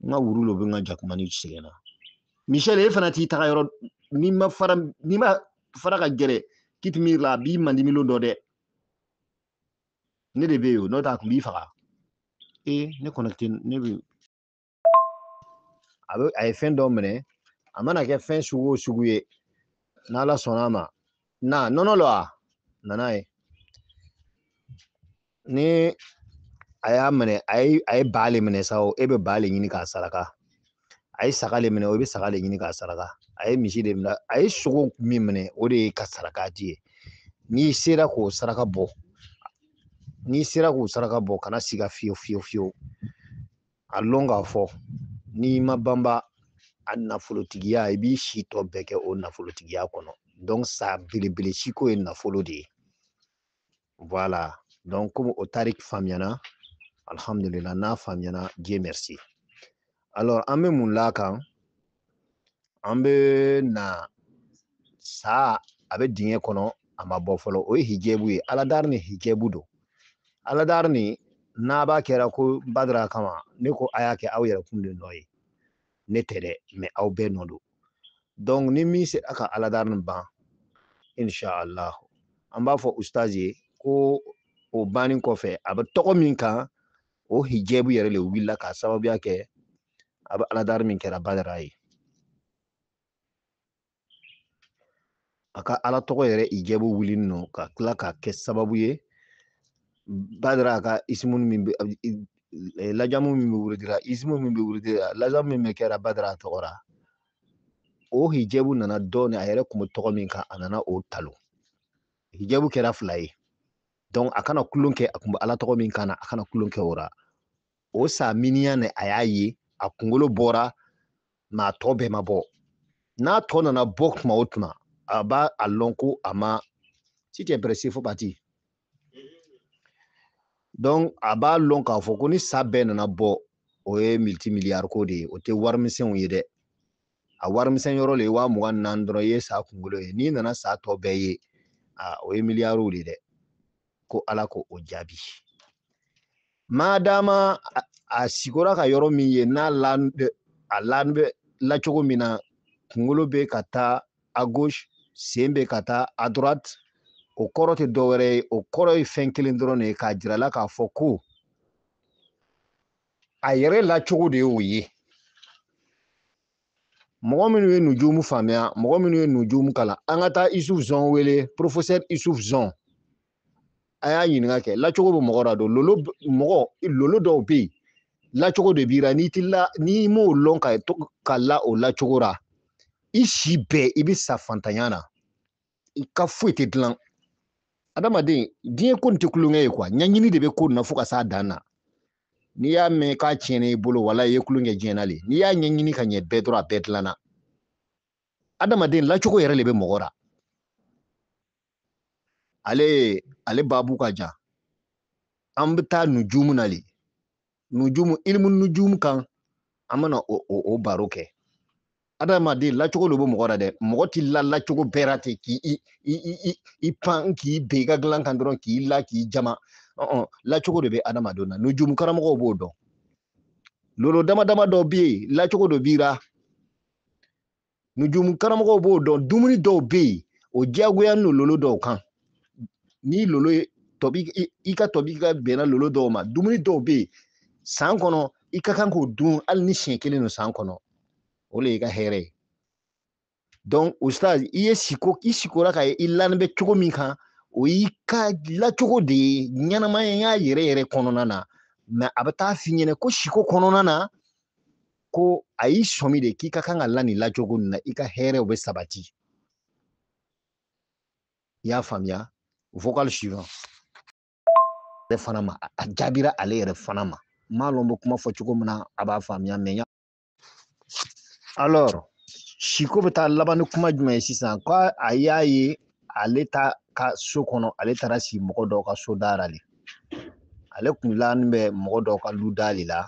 n ka wuru lo bɛ n ka jakuma ni sɛgɛnna misɛli e fana t'i taga yɔrɔ n'i ma fara n'i ma fara ka gɛrɛ kitmiri la a b'i mandimi lon dɔ dɛ ne de bɛ yen o n'o tɛ a tun b'i faga ee ne kɔnɔ tɛ ne bɛ a bɛ a ye fɛn dɔ minɛ a mana kɛ fɛn sugu o sugu ye n'ala sɔnna a ma na nɔnɔ lɔ a nana ye ni a y'a minɛ a ye a ye ba le minɛ sa o e bɛ ba le ɲini k'a saraka a ye saga le minɛ i bɛ saga le ɲini k'a saraka a ye misi de minɛ a ye sogo min minɛ o de y'i ka saraka di ye n'i sera k'o saraka bɔ n'i sera k'o saraka bɔ kana siga fiyewu fiyewu fiyewu a lɔn k'a fɔ n'i ma banba a nafolotigiya i b'i si tɔ bɛɛ kɛ o nafolotigiya kɔnɔ donc sa belebele siko ye nafolo de ye voilà donc komi o tarik faamuyana alhamdulila n'a faamuyana dieu merci alors an bɛ mun l'a kan an bɛ na sa a bɛ dingɛ kɔnɔ a ma bɔ fɔlɔ o ye hijɛbu ye aladari ni hijɛbu don aladari ni n'a b'a kɛra ko badara kama ne ko a y'a kɛ aw yɛrɛ kun de nɔ ye ne tɛ dɛ mais aw bɛɛ nɔ don donc ni min sera ka aladari ni ban inshallah an b'a fɔ ustazi ye ko o banni kɔfɛ a bɛ tɔgɔ min kan o hijɛbu yɛrɛ le wulila k'a sababuya kɛ a bɛ ala dari min kɛra badara ye a ka ala tɔgɔ yɛrɛ hijabu wuli nɔ ka tila k'a kɛ sababu ye badara a ka isimu min bɛ lajamu min bɛ wurudira isimu min bɛ wurudira lajamu min bɛ kɛra badara a tɔgɔ la o hijabu nana dɔɔni a yɛrɛ kun bɛ tɔgɔ min kan a nana o ta o hijabu kɛra fila ye a kana kulon kɛ a kun bɛ ala tɔgɔ min kan na a kana kulon kɛ o la o sa miniya ne a y'a ye a kunkolo bɔra ma a tɔ bɛɛ ma bɔ n'a tɔ nana bɔ tuma o tuma a b'a a lɔn ko a ma si tɛ bɛrɛ se fo bati donc a b'a lɔn k'a fɔ ko ni sa bɛɛ nana bɔ o ye multi miliyari ko de ye o tɛ warimisɛnw ye dɛ a warimisɛn yɔrɔ le ye waa mugan naani dɔrɔn i ye sa kunkolo ye n'i nana sa tɔ bɛɛ ye a o ye miliyariw de ye dɛ ko ala ka o jaabi madama a sikora ka yɔrɔ min ye n'a lan a lani bɛ lacogo min na kunkolo bɛ ka taa a gauche sen bɛ ka taa a droite o kɔrɔ tɛ dɔ wɛrɛ ye o kɔrɔ ye fɛn kelen dɔrɔn de ye k'a jira a la k'a fɔ ko a yɛrɛ lacogo de y'o ye mɔgɔ minnu ye nujumu faamuya mɔgɔ minnu ye nujumu kalan an ka taa isuf zɔn wele professeur isuf zɔn a y'a ɲininka kɛ lacogo bɛ mɔgɔ la don lolo mɔgɔ lolo dɔw bɛ yen lacogo de b'i la n'i t'i la n'i m'o lɔn ka ka la o lacogo la i si bɛɛ i bɛ sa fantanya na i ka foyi tɛ dilan adamaden diɲɛ ko nin tɛ kulonkɛ ye quoi ɲɛɲini de bɛ ko na fo ka s'a dan na n'i y'a mɛn k'a tiɲɛna i bolo wala i ye kulonkɛ diɲɛ na le n'i y'a ɲɛɲini ka ɲɛ bɛɛ dɔrɔn a bɛɛ dilanna adamaden lacogo yɛrɛ de bɛ mɔgɔ la ale ale babu ka jan an bɛ taa nujumu na le nujumu ilimu nujumu kan an bɛna o o o baro kɛ adamaden lacogo de bɛ mɔgɔ la dɛ mɔgɔ t'i la lacogo bɛɛ la ten k'i i i i i i pan k'i ben i ka dilan kan dɔrɔn k'i la k'i jama ɔn lacogo de bɛ adamadenw na nujumu karamɔgɔw b'o dɔn lolo dama dama dɔ bɛ yen lacogo dɔ b'i la nujumu karamɔgɔw b'o dɔn dumuni dɔw bɛ yen o diyagoyalen don lolo dɔw kan ni lolo ye tɔbi i ka tɔbi ka bɛnna lolo dɔw ma dumuni dɔw bɛ yen san kɔnɔ i ka kan k'o dun hali ni siɲɛ kelen don san kɔnɔ o de y'i ka hɛrɛ ye donc o sira i ye siko i sikora k'a ye i lani bɛ cogo min kan o y'i ka lacogo de ye ɲɛnamaya yɛrɛ yɛrɛ kɔnɔna na mais a bɛ taa f'i ɲɛna ko siko kɔnɔna na ko a y'i sɔmi de k'i ka kan ka la nin lacogo nin na i ka hɛrɛw bɛ sabati i y'a faamuya vocal suivant ale fana ma a jaabira ale yɛrɛ fana ma n m'a lɔn n bɛ kuma fɔ cogo min na a b'a faamuya mɛ ya alors siko bɛ taa laban ni kuma jumɛn ye sisan ko a y'a ye ale t'a ka so kɔnɔ ale taara si mɔgɔ dɔ ka so da la de ale kun laani bɛ mɔgɔ dɔ ka lu da de la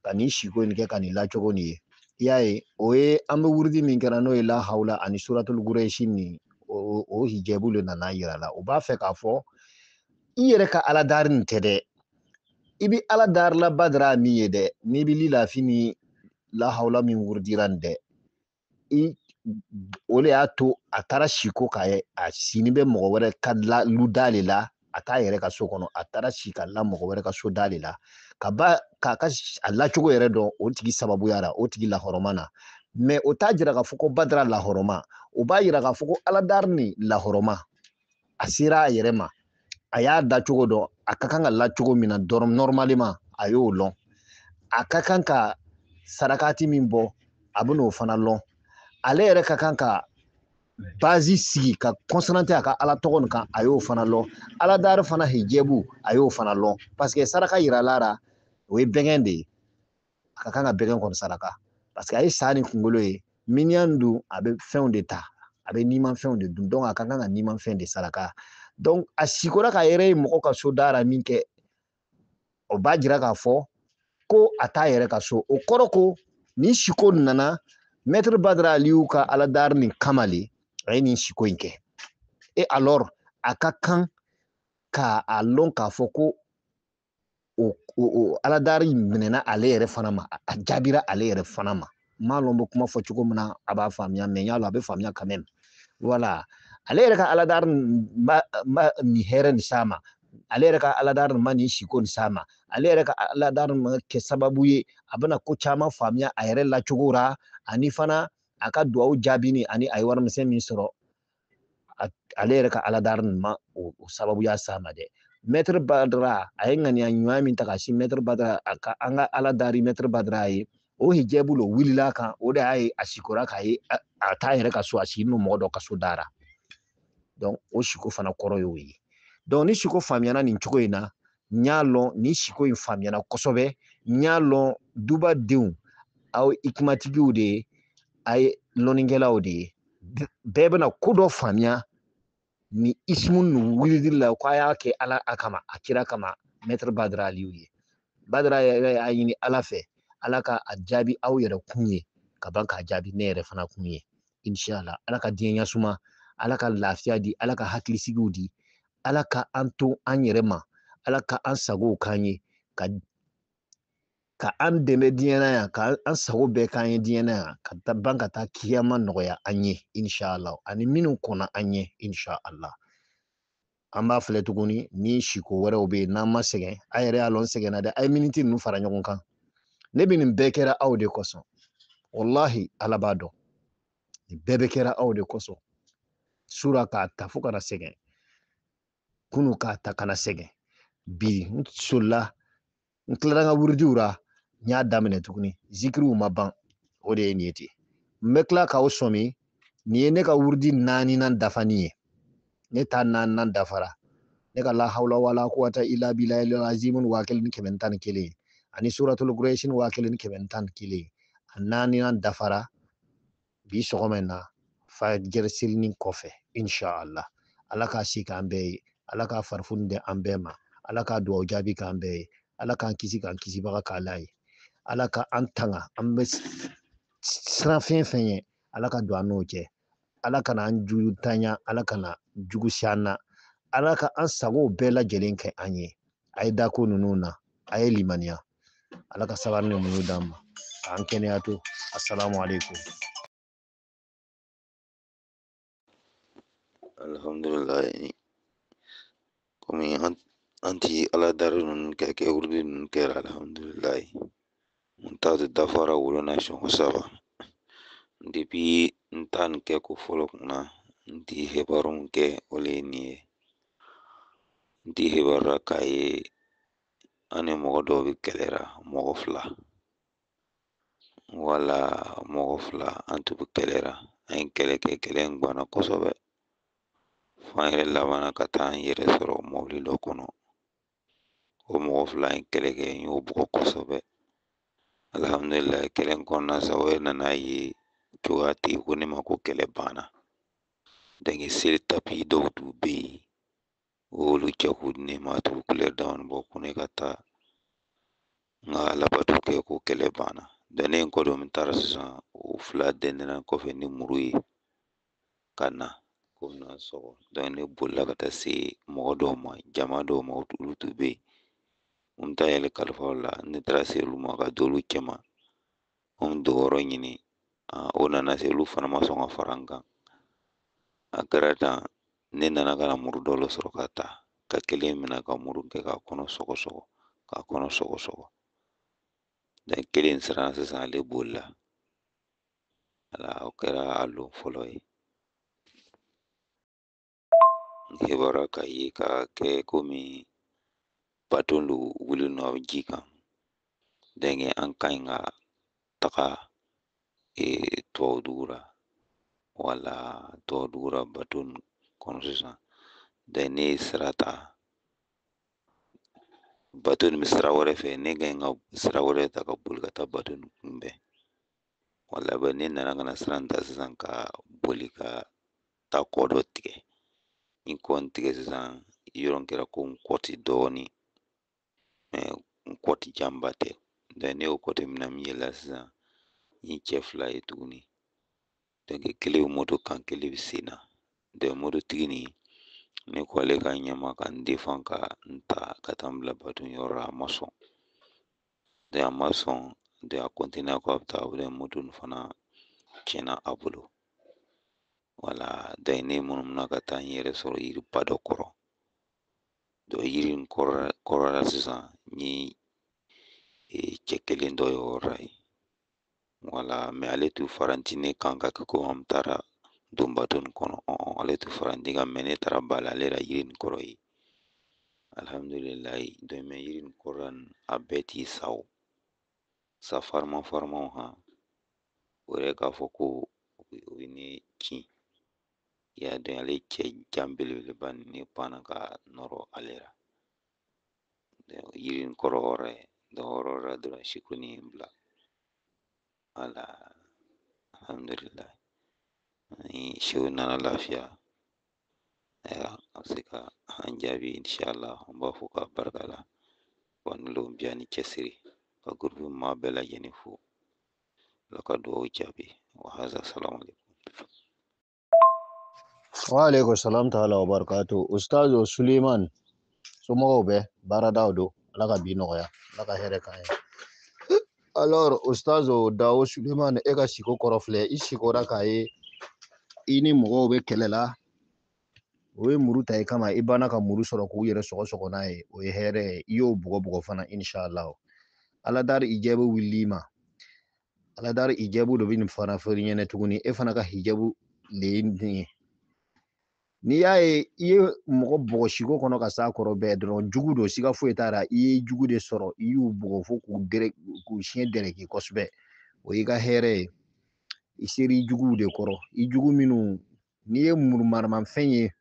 ka nin siko in kɛ ka nin lacogo nin ye i y'a ye o ye an bɛ wurudi min kɛra n'o ye lahawla ani suratul gurɛsi nin o o hijɛbu le nana yira la u b'a fɛ k'a fɔ i yɛrɛ ka ala dari nin tɛ dɛ i bi ala darila badara min ye dɛ n'i bi lilafi ni lahawla min wurudira nin dɛ o de y'a to a taara siko k'a ye a sini bɛ mɔgɔ wɛrɛ ka lu da de la a t'a yɛrɛ ka so kɔnɔ a taara si ka la mɔgɔ wɛrɛ ka so da de la ka ban k'a ka a lacogo yɛrɛ dɔn o tigi sababuya la o tigi lahɔrɔma na mɛ o t'a jira k'a fɔ ko badara lahɔrɔma o b'a jira k'a fɔ ko aladari nin lahɔrɔma a sera a yɛrɛ ma a y'a da cogo dɔn a ka kan ka la cogo min na nɔrɔmaliman a y'o lɔn a ka kan ka sarakati min bɔ a bɛna o fana lɔn ale yɛrɛ ka kan ka basi sigi ka kɔnsante a ka ala tɔgɔ nin kan a y'o fana lɔn ala dari fana hijɛbu a y'o fana lɔn paseke saraka yirala a ra o ye bɛgɛn de ye a ka kan ka bɛgɛn kɔni saraka parce que a ye sa ni kunkolo ye miniyan dun a bɛ fɛnw de ta a bɛ nimanfɛnw de dun donc a ka kan ka nimanfɛn de saraka donc a sikora k'a yɛrɛ ye mɔgɔ ka so dara min kɛ o b'a jira k'a fɔ ko a t'a yɛrɛ ka so o kɔrɔ ko ni siko nana mɛtiri badara aliyu ka aladari nin kama le a ye nin siko in kɛ e alors a ka kan ka a lɔn k'a fɔ ko o o aladari minɛna ale yɛrɛ fana ma a jaabira ale yɛrɛ fana ma n m'a lɔn n bɛ kuma fɔ cogo min na a b'a faamuya mɛ n y'a lɔn a bɛ faamuya ka mɛn wala ale yɛrɛ ka aladari ma nin hɛrɛ nin s'a ma ale yɛrɛ ka aladari ma nin siko nin s'a ma ale yɛrɛ ka aladari ma kɛ sababu ye a bɛna ko caman faamuya a yɛrɛ lacogo ra ani fana a ka duwawu jaabini ani a ye warimisɛn min sɔrɔ ale yɛrɛ ka aladari nin ma o sababuya s'a ma dɛ mɛtiri badara a ye ŋaniya ɲuman min ta ka si mɛtiri badara a ka an ka ala dari mɛtiri badara ye o hijɛbu lo wulila a kan o de y'a ye a sikora k'a ye a t'a yɛrɛ ka so a sigi n'o mɔgɔ dɔ ka so dara donc o siko fana kɔrɔ y'o ye donc ni siko faamuyana nin cogo in na n y'a lɔn nin siko in faamuyana kosɛbɛ n y'a lɔn dubadenw aw hikimatigiw de ye a ye lɔnnikɛlaw de ye bɛɛ bɛna ko dɔ faamuya ni isimu ninnu wulili la ko a y'a kɛ ala kama a kira kama mɛtiri badara aliyu ye badara yɛrɛ y'a ɲini ala fɛ ala ka a jaabi aw yɛrɛ kun ye ka ban k'a jaabi ne yɛrɛ fana kun ye inshallah ala ka diɲɛ ɲasuma ala ka lafiya di ala ka hakilisigi di ala kana an to an yɛrɛ ma ala ka an sago k'an ye ka ka an dɛmɛ diɲɛ na yan ka an sago bɛɛ k'an ye diɲɛ na yan ka taa ban ka taa kiyama nɔgɔya an ye inshala ani minnu kɔnna an ɲɛ inshala an b'a filɛ tuguni ni siko wɛrɛw bɛ yen n'an ma sɛgɛn a yɛrɛ y'a lɔn n sɛgɛnna dɛ a ye miniti ninnu fara ɲɔgɔn kan ne bɛ nin bɛɛ kɛra aw de kosɔn walahi ala b'a dɔn nin bɛɛ bɛ kɛra aw de kosɔn su ra k'a ta fo ka na sɛgɛn kunu k'a ta ka na sɛgɛn bi n solila n tilara n ka wuridiw ra n y'a daminɛ tuguni zikiriw ma ban o de ye nin ye ten n bɛ tila k'aw sɔmi nin ye ne ka wurudi naaninan dafani ye ne ta naaninan dafara ne ka la hawla wala quwata illa billahi azimun waa kelen ni kɛmɛ tan ni kelen ani suratul quraishin waa kelen ni kɛmɛ tan ni kelen a naaninan dafara bi sɔgɔma in na fajiri selinin kɔfɛ inshallah ala k'a si k'an bɛɛ ye ala ka farifoni di an bɛɛ ma ala k'a dugawu jaabi k'an bɛɛ ye ala k'an kisi k'an kisibaga k'ala ye ala ka an tanga an bɛ siran fɛn fɛn ɲɛ ala ka don an n'o cɛ ala kana an jugu ta ɲa ala kana jugu se an na ala ka an sagow bɛɛ lajɛlen kɛ an ye a ye da ko ninnu na a ye limaniya ala ka sabari ni muɲu d'an ma k'an kɛnɛya to assalamu alaikum alhamdulillah kɔmi an an ti aladari ninnu kɛ kɛ wuridi ninnu kɛra alihamudulilayi n ta de dafara o lon na sɔngɔ saba depuis n ta nin kɛ ko fɔlɔ kunna n ti hebarinw kɛ o le ye nin ye n ti hebarira k'a ye an ni mɔgɔ dɔw bɛ kɛlɛra mɔgɔ fila wala mɔgɔ fila an tun bɛ kɛlɛra an ye kɛlɛ kɛ kɛlɛ in gwanna kosɛbɛ fo an yɛrɛ labanna ka taa an yɛrɛ sɔrɔ mɔbili dɔ kɔnɔ o mɔgɔ fila in kɛlɛ kɛ n y'u bugɔ kosɛbɛ alihamudulila kɛlɛ in kɔnɔna sa u yɛrɛ nana a ye cogoya tɛ yen ko ne ma ko kɛlɛ banna donc seli tapi dɔw tun bɛ yen u y'olu cɛ k'u di ne ma a tun kulɛri damanin bɔ ko ne ka taa n ka alabato kɛ ko kɛlɛ banna donc ne ye n kɔ don n taara sisan u fila dɛndɛnna n kɔfɛ ni muru ye ka na ko na sɔgɔ ne bolila ka taa se mɔgɔ dɔw ma jama dɔw ma olu tun bɛ yen n taa n yɛrɛ kalifa u la ne taara se olu ma ka don olu cɛma n dogoyɔrɔ ɲini o nana se olu fana ma sɔn ka fara n kan a kɛra tan ne nana ka na muru dɔ la sɔrɔ ka ta ka kelen minɛ ka muru kɛ k'a kɔnɔ sɔgɔ sɔgɔ k'a kɔnɔ sɔgɔ sɔgɔ kelen siran sisan ale bolila ala o kɛra a lon fɔlɔ ye n kibaruya ka ye ka kɛ komi baton dɔ wuli nɔ ji kan donc an ka ɲi ka taga ee, tubabu dugu la wala tubabu dugu la baton kɔnɔ sisan dɛ ne ye sira ta bato nin bɛ sira wɛrɛ fɛ ne ka ɲi ka sira wɛrɛ ta ka boli ka taa bato nin kunbɛn wala bɛ ne nana ka na sira in ta sisan ka boli ka taa kɔ dɔ tigɛ n ye kɔ in tigɛ sisan yɔrɔ in kɛra komi kɔti dɔɔnin mɛ kɔti janba tɛ ne y'o kɔti minɛ min yɛlɛ sisan n ye cɛ fila ye tuguni kelen bɛ moto kan kelen bɛ sen na mototigi nin ne ko ale ka ɲɛ n ma ka n defan ka n ta ka taa n bila baton yɔrɔ la a ma sɔn de a ma sɔn de a kɔntinera ko a bɛ taa wele moto nin fana tiɲɛna a bolo wala dɔ ye ne munumununa ka taa n yɛrɛ sɔrɔ yiriba dɔ kɔrɔ dɔ yiri in kɔrɔla sisan n ye cɛ kelen dɔ ye yɔrɔ ye wala mɛ ale tun faralen tɛ ne kan ka kɛ komi an taara don bato nin kɔnɔ ale tun faralen tɛ n kan mɛ ne taara bala ale la yiri nin kɔrɔ yen alihamudulilayi dɔmɛ yiri nin kɔrɔ a bɛɛ tun ye saw sa farima farimaw han o yɛrɛ k'a fɔ ko u ye ne kin i y'a dɔn ale cɛ jan belebeleba nin ne panna ka nɔrɔ ale la yirin kɔrɔ o yɔrɔ ye dɔ o yɔrɔ la dɔrɔn siko in ye n bila wala alhamdulilayi ni sew nana lafiya ayiwa a bɛ se ka an jaabi inshallah an b'a fɔ k'a barika la wa ni lon biya ni cɛsiri ka gurupu maa bɛɛ lajɛlen fo ala ka dugawu jaabi wa haza salamu alaikum wa alaikum salam ta'ala wa barakatu ustazo suleiman somɔgɔw bɛ baaradaw dun ala ka bi nɔgɔya ala ka hɛrɛ k'an ye alors ustazo dawo suleiman e ka siko kɔrɔ filɛ i sikora k'a ye i ni mɔgɔw bɛ kɛlɛ la u ye muru ta i kama i banna ka muru sɔrɔ k'u yɛrɛ sɔgɔ sɔgɔ n'a ye o ye hɛrɛ ye i y'u bugɔ bugɔ fana inshallah ala dari i jɛ bɛ wuli i ma ala dari hijabu dɔ bɛ nin fana fɔ ɲɛnɛ tuguni e fana ka hijabu le ye nin ye n'i y'a ye i ye mɔgɔ bugɔ siko kɔnɔ ka s'a kɔrɔ bɛɛ dɔrɔn jugu don siga foyi t'a la i ye jugu de sɔrɔ i y'u bugɔ fo k'u dɛrɛ k'u siɲɛ dɛrɛki kosɛbɛ o y'i ka hɛrɛ ye i sera i juguw de kɔrɔ i jugu minnu n'i ye muru maramafɛn ye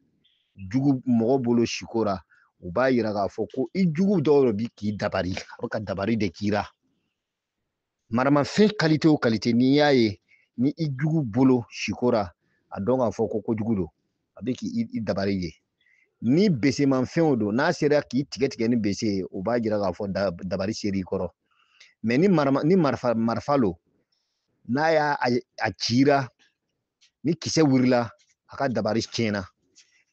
jugu mɔgɔ bolo siko ra u b'a yira k'a fɔ ko i jugu dɔw de bi k'i dabari a bɛ ka dabari de k'i ra maramafɛn kalite o kalite n'i y'a ye ni i jugu bolo sikora a dɔn k'a fɔ ko kojugu lo a bɛ k'i dabari ye ni besemanfɛnw don n'a sera k'i tigɛ tigɛ ni bese ye o b'a jira k'a fɔ dabari sera i kɔrɔ mɛ ni marifa lo n'a y'a c'i ra ni kisɛ wulila a ka dabari tiɲɛna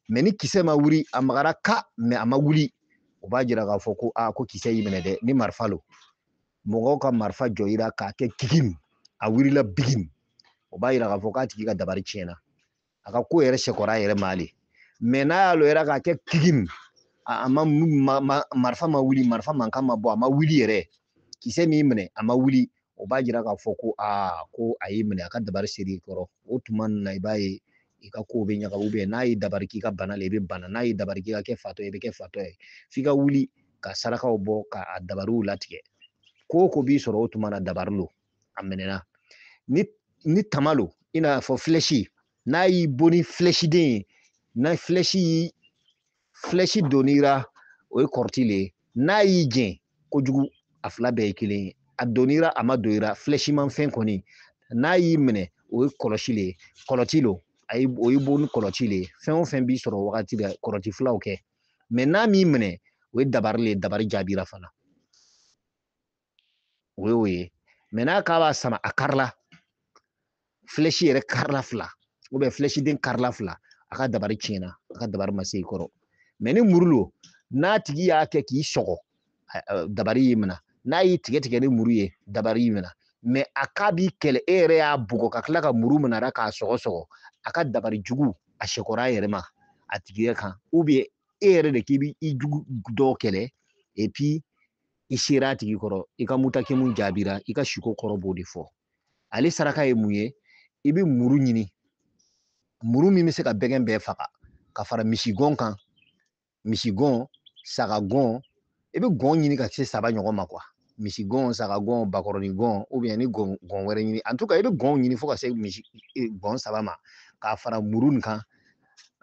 mɛ ni kisɛ ma wuli a magara ka mɛ a ma wuli o b'a jira k'a fɔ ko a ko kisɛ y'i minɛ dɛ ni marifa lo mɔgɔ ka marifa jɔ i ra k'a kɛ kigim a wulila bigim o b'a jira k'a fɔ k'a tigi ka dabari tiɲɛna a ka ko yɛrɛ sekɔra a yɛrɛ ma ale mɛ n'a y'a lɔ i ra k'a kɛ kigim a ma marifa ma wuli marifa mankan ma bɔ a ma wuli yɛrɛ kisɛ m'i minɛ a ma wuli o b'a jira k'a fɔ ko aa ko a y'i minɛ a ka dabari sera i kɔrɔ o tuma na i b'a ye i ka kow bɛ ɲagami ubiyɛn n'a y'i dabari k'i ka bana la i bɛ bana n'a y'i dabari k'i ka kɛ fatɔ ye i bɛ kɛ fatɔ ye f'i ka wuli ka sarakaw bɔ ka a dabariw latigɛ ko o ko b'i sɔrɔ o tuma na dabari lo a minɛna ni ni tama lo i n'a fɔ filɛsi n'a y'i bon ni filɛsiden ye n'a filɛsi y'i flɛshi donn'i ra o ye kɔrɔti le ye n'a y'i jɛn kojugu a fila bɛɛ ye kelen ye a donn'i ra a ma don i ra flɛshimanfɛn kɔni n'a y'i minɛ o ye kɔlɔsi le ye kɔlɔti lo a ye o y'i bon ni kɔlɔti le ye fɛn o fɛn b'i sɔrɔ wagati la kɔlɔti filaw kɛ mɛ n'a m'i minɛ o ye dabari le ye dabari jaabira fana o ye o ye mɛ n'a k'a b'a sama a karila filɛsi yɛrɛ karila fila ubiyɛn filɛsiden karila fila a ka dabari tiɲɛna a ka dabari ma se i kɔrɔ mɛ ni muru lo n'a tigi y'a kɛ k'i sɔgɔ dabari y'i minɛ n'a y'i tigɛ tigɛ ni muru ye dabari y'i minɛ mɛ a k'a b'i kɛlɛ e yɛrɛ y'a bugɔ ka tila ka muru minɛ a k'a sɔgɔ sɔgɔ a ka dabari jugu a sekɔra a yɛrɛ ma a tigi yɛrɛ kan ubiyɛn e yɛrɛ de k'i bi i jugu dɔw kɛlɛ epi i sera a tigi kɔrɔ i ka mutakimu jaabira i ka siko kɔrɔ b'o de fɔ ale saraka ye mun ye i bɛ muru ɲini muru min bɛ se ka bɛgɛn bɛɛ faga ka fara misigɔn kan misigɔn sagagɔn i bɛ gɔn ɲini ka se saba ɲɔgɔn ma kuwa misigɔn sagagɔn bakɔrɔni gɔn ubiyɛn ni gɔn gɔn wɛrɛ ɲini an tuka i bɛ gɔnw ɲini fo ka se misi e, gɔn saba ma k'a fara muru nin kan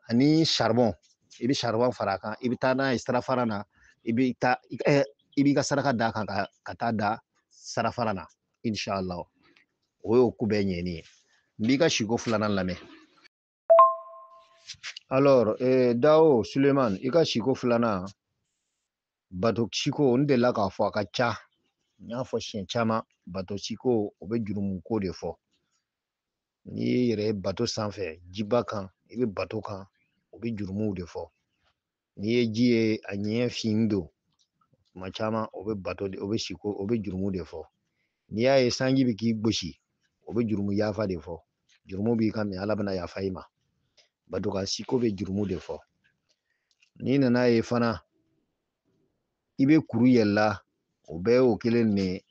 ani saribɔn i bɛ saribɔn fara a kan i bɛ taa n'a ye sirafara na i bɛ taa i b'i ka saraka d'a kan ka taa da sirafara na inshala o y'o ko bɛɛ ɲɛni ye n b'i ka siko filanan lamɛn alors eh, dawo suleman i ka siko filanan bato siko n delila k'a fɔ a ka ca n y'a fɔ siɲɛ caman bato siko o bɛ jurumuko de fɔ n'i y'i yɛrɛ ye bato sanfɛ jiba kan i bɛ bato kan o bɛ jurumuw de fɔ n'i ye ji ye a ɲɛ fin don tuma caman o bɛ bato de o bɛ siko o bɛ jurumu de fɔ n'i y'a ye sanji bɛ k'i gosi o bɛ jurumu yafa de fɔ jurumu b'i kan min ala bɛna yafa i ma bato kan siko bɛ jurumu de fɔ n'i nan'a ye fana i bɛ kuru yɛlɛla o bɛɛ y'o kelen de ye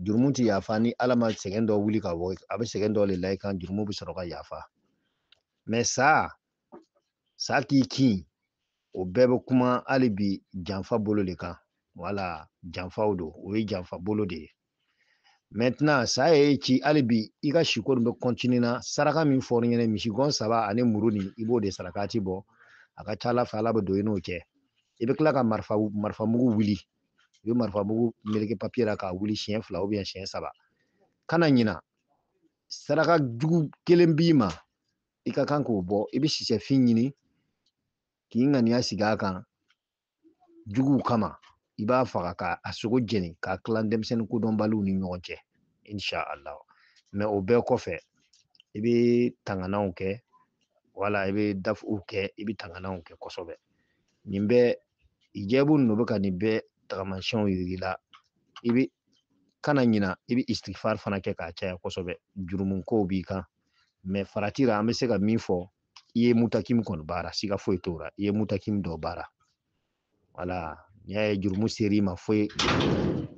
jurumu tɛ yafa ni ala ma sɛgɛn dɔ wuli ka bɔ a bɛ sɛgɛn dɔ de la i kan jurumu bɛ sɔrɔ ka yafa mɛ sa sa k'i kin o bɛɛ bɛ kuma hali bi janfa bolo de kan wala janfaw don o ye janfa bolo de ye maintenant sa y'i ci hali bi i ka siko nin bɛ kɔntini na saraka min fɔr'i ɲɛna misigɔn saba ani muru nin i b'o de sarakati bɔ a ka ca ala fɛ ala bɛ don i n'o cɛ i bɛ tila ka marifa marifa mugu wuli i bɛ marifa mugu meleke papiye la k'a wuli siɲɛ fila ubiyɛn siɲɛ saba kana ɲina saraka jugu kelen b'i ma i ka kan k'o bɔ i bɛ sisɛfin ɲini k'i ŋaniya sigi a kan juguw kama i b'a faga ka a sogo jeni k'a tila denmisɛnnin kodɔnbaliw ni ɲɔgɔn cɛ insha allah mɛ o bɛɛ kɔfɛ i bɛ tangananw kɛ wala i bɛ dafuw kɛ i bɛ tangananw kɛ kosɛbɛ nin bɛɛ jɛbu ninnu bɛ ka nin bɛɛ tagamasiyɛnw yir'i la i bɛ kana ɲina i bɛ istigifari fana kɛ k'a caya kosɛbɛ jurumu kow b'i kan mɛ farati la an bɛ se ka min fɔ i ye mutakim kɔni baara siga foyi t'o la i ye mutakim dɔ baara wala n'i y'a ye jurumu ser'i ma fo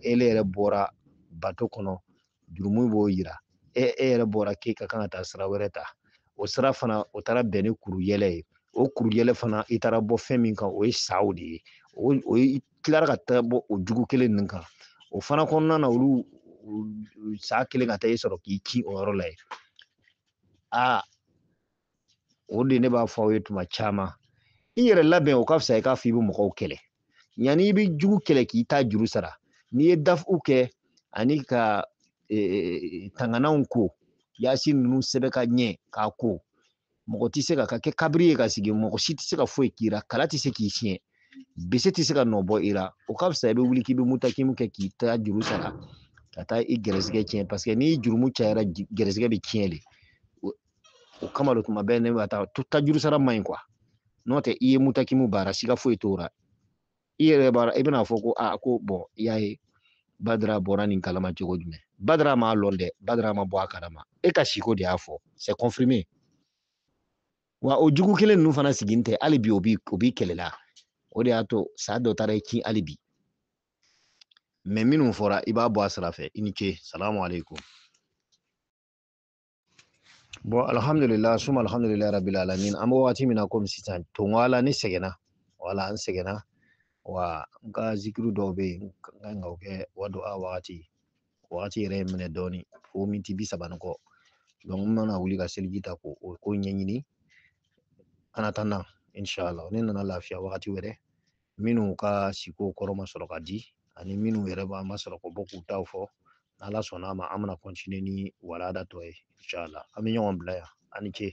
ele yɛrɛ bɔra bato kɔnɔ jurumu b'o yira e e yɛrɛ bɔra k'e ka kan ka taa sira wɛrɛ ta o sira fana o taara bɛn ni kuru yɛlɛ ye o kuru yɛlɛ fana i taara bɔ fɛn min kan o ye saw de ye o o i tilara ka taa bɔ o jugu kelen ninnu kan o fana kɔnɔna na olu sa kelen ka taa i sɔrɔ k'i ci o yɔrɔ la yen aa o de ne b'a fɔ aw ye tuma caman i yɛrɛ labɛn o ka fisa i k'a fɔ i bɛ mɔgɔw kɛlɛ yanni i bɛ jugu kɛlɛ k'i ta juru sara n'i ye dafu kɛ ani ka e, e, e, tangananw ko yasi ninnu sɛbɛn ka ɲɛ k'a ko mɔgɔ tɛ se ka kɛ kabiri ye ka sigi mɔgɔ si tɛ se ka foyi k'i la kala tɛ se k'i siɲɛ bisi tɛ se ka nɔ bɔ i la o ka fisa i bɛ wuli k'i bɛ mutakimu kɛ k'i ta juru sara ka taa i gɛrɛsɛgɛ tiɲɛ paseke n'i jurumu cayara gɛrɛsɛgɛ bɛ tiɲɛ de o kama de kuma bɛɛ ne bɛ taa ta juru sara man ɲi n'o tɛ i ye mutakimu baara siga foyi t'o la i yɛrɛ b'a i bɛna fɔ ko a ko bɔn i y'a ye badara bɔra nin kalama cogo jumɛn badara m'a lɔn dɛ badara ma bɔ a kalama e ka siko de y'a fɔ c'est confirmé wa o jugu kelen ninnu fana sigin tɛ hali bi o b'i o b'i kɛlɛ la o de y'a to sa dɔ taara i kin hali bi mɛ minnu fɔra i b'a bɔ a sira fɛ i ni ce salamu aleykum bɔn alhamdulillah suma alhamdulillah rabbil alamin an bɛ wagati min na komi sisan tongo ala ne sɛgɛnna wala an sɛgɛnna wa n ka zikiru dɔw bɛ yen n ka kan ka o kɛ wa don a wagati wagati yɛrɛ ye n minɛ dɔɔni fo miniti bi saba ni kɔ n mana wuli ka seliji ta k'o ko ɲɛɲini kana taa na inshallah ni n nana lafiya wagati wɛrɛ minnu ka siko kɔrɔ ma sɔrɔ ka di ani minnu yɛrɛ b'a ma sɔrɔ ka bɔ k'u taw fɔ n'ala sɔnna a ma an bɛna continuer ni walanda tɔ ye inshallah an bɛ ɲɔgɔn bila yan a ni ce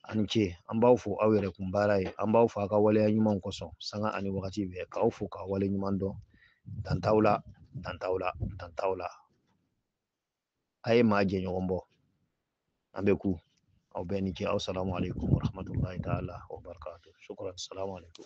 a ni ce an b'aw fo aw yɛrɛ kun baara ye an b'aw fo a ka waleya ɲumanw kosɔn sanga ani wagati bɛɛ k'aw fo k'aw waleɲumandɔn dan t'aw la dan t'aw la dan t'aw la a ye maa jɛɲɔgɔn bɔ an bɛɛ kun aw bɛɛ ni ce aw salamu aleykum warahmatullahi taala wabarakatu shukran salamu aleykum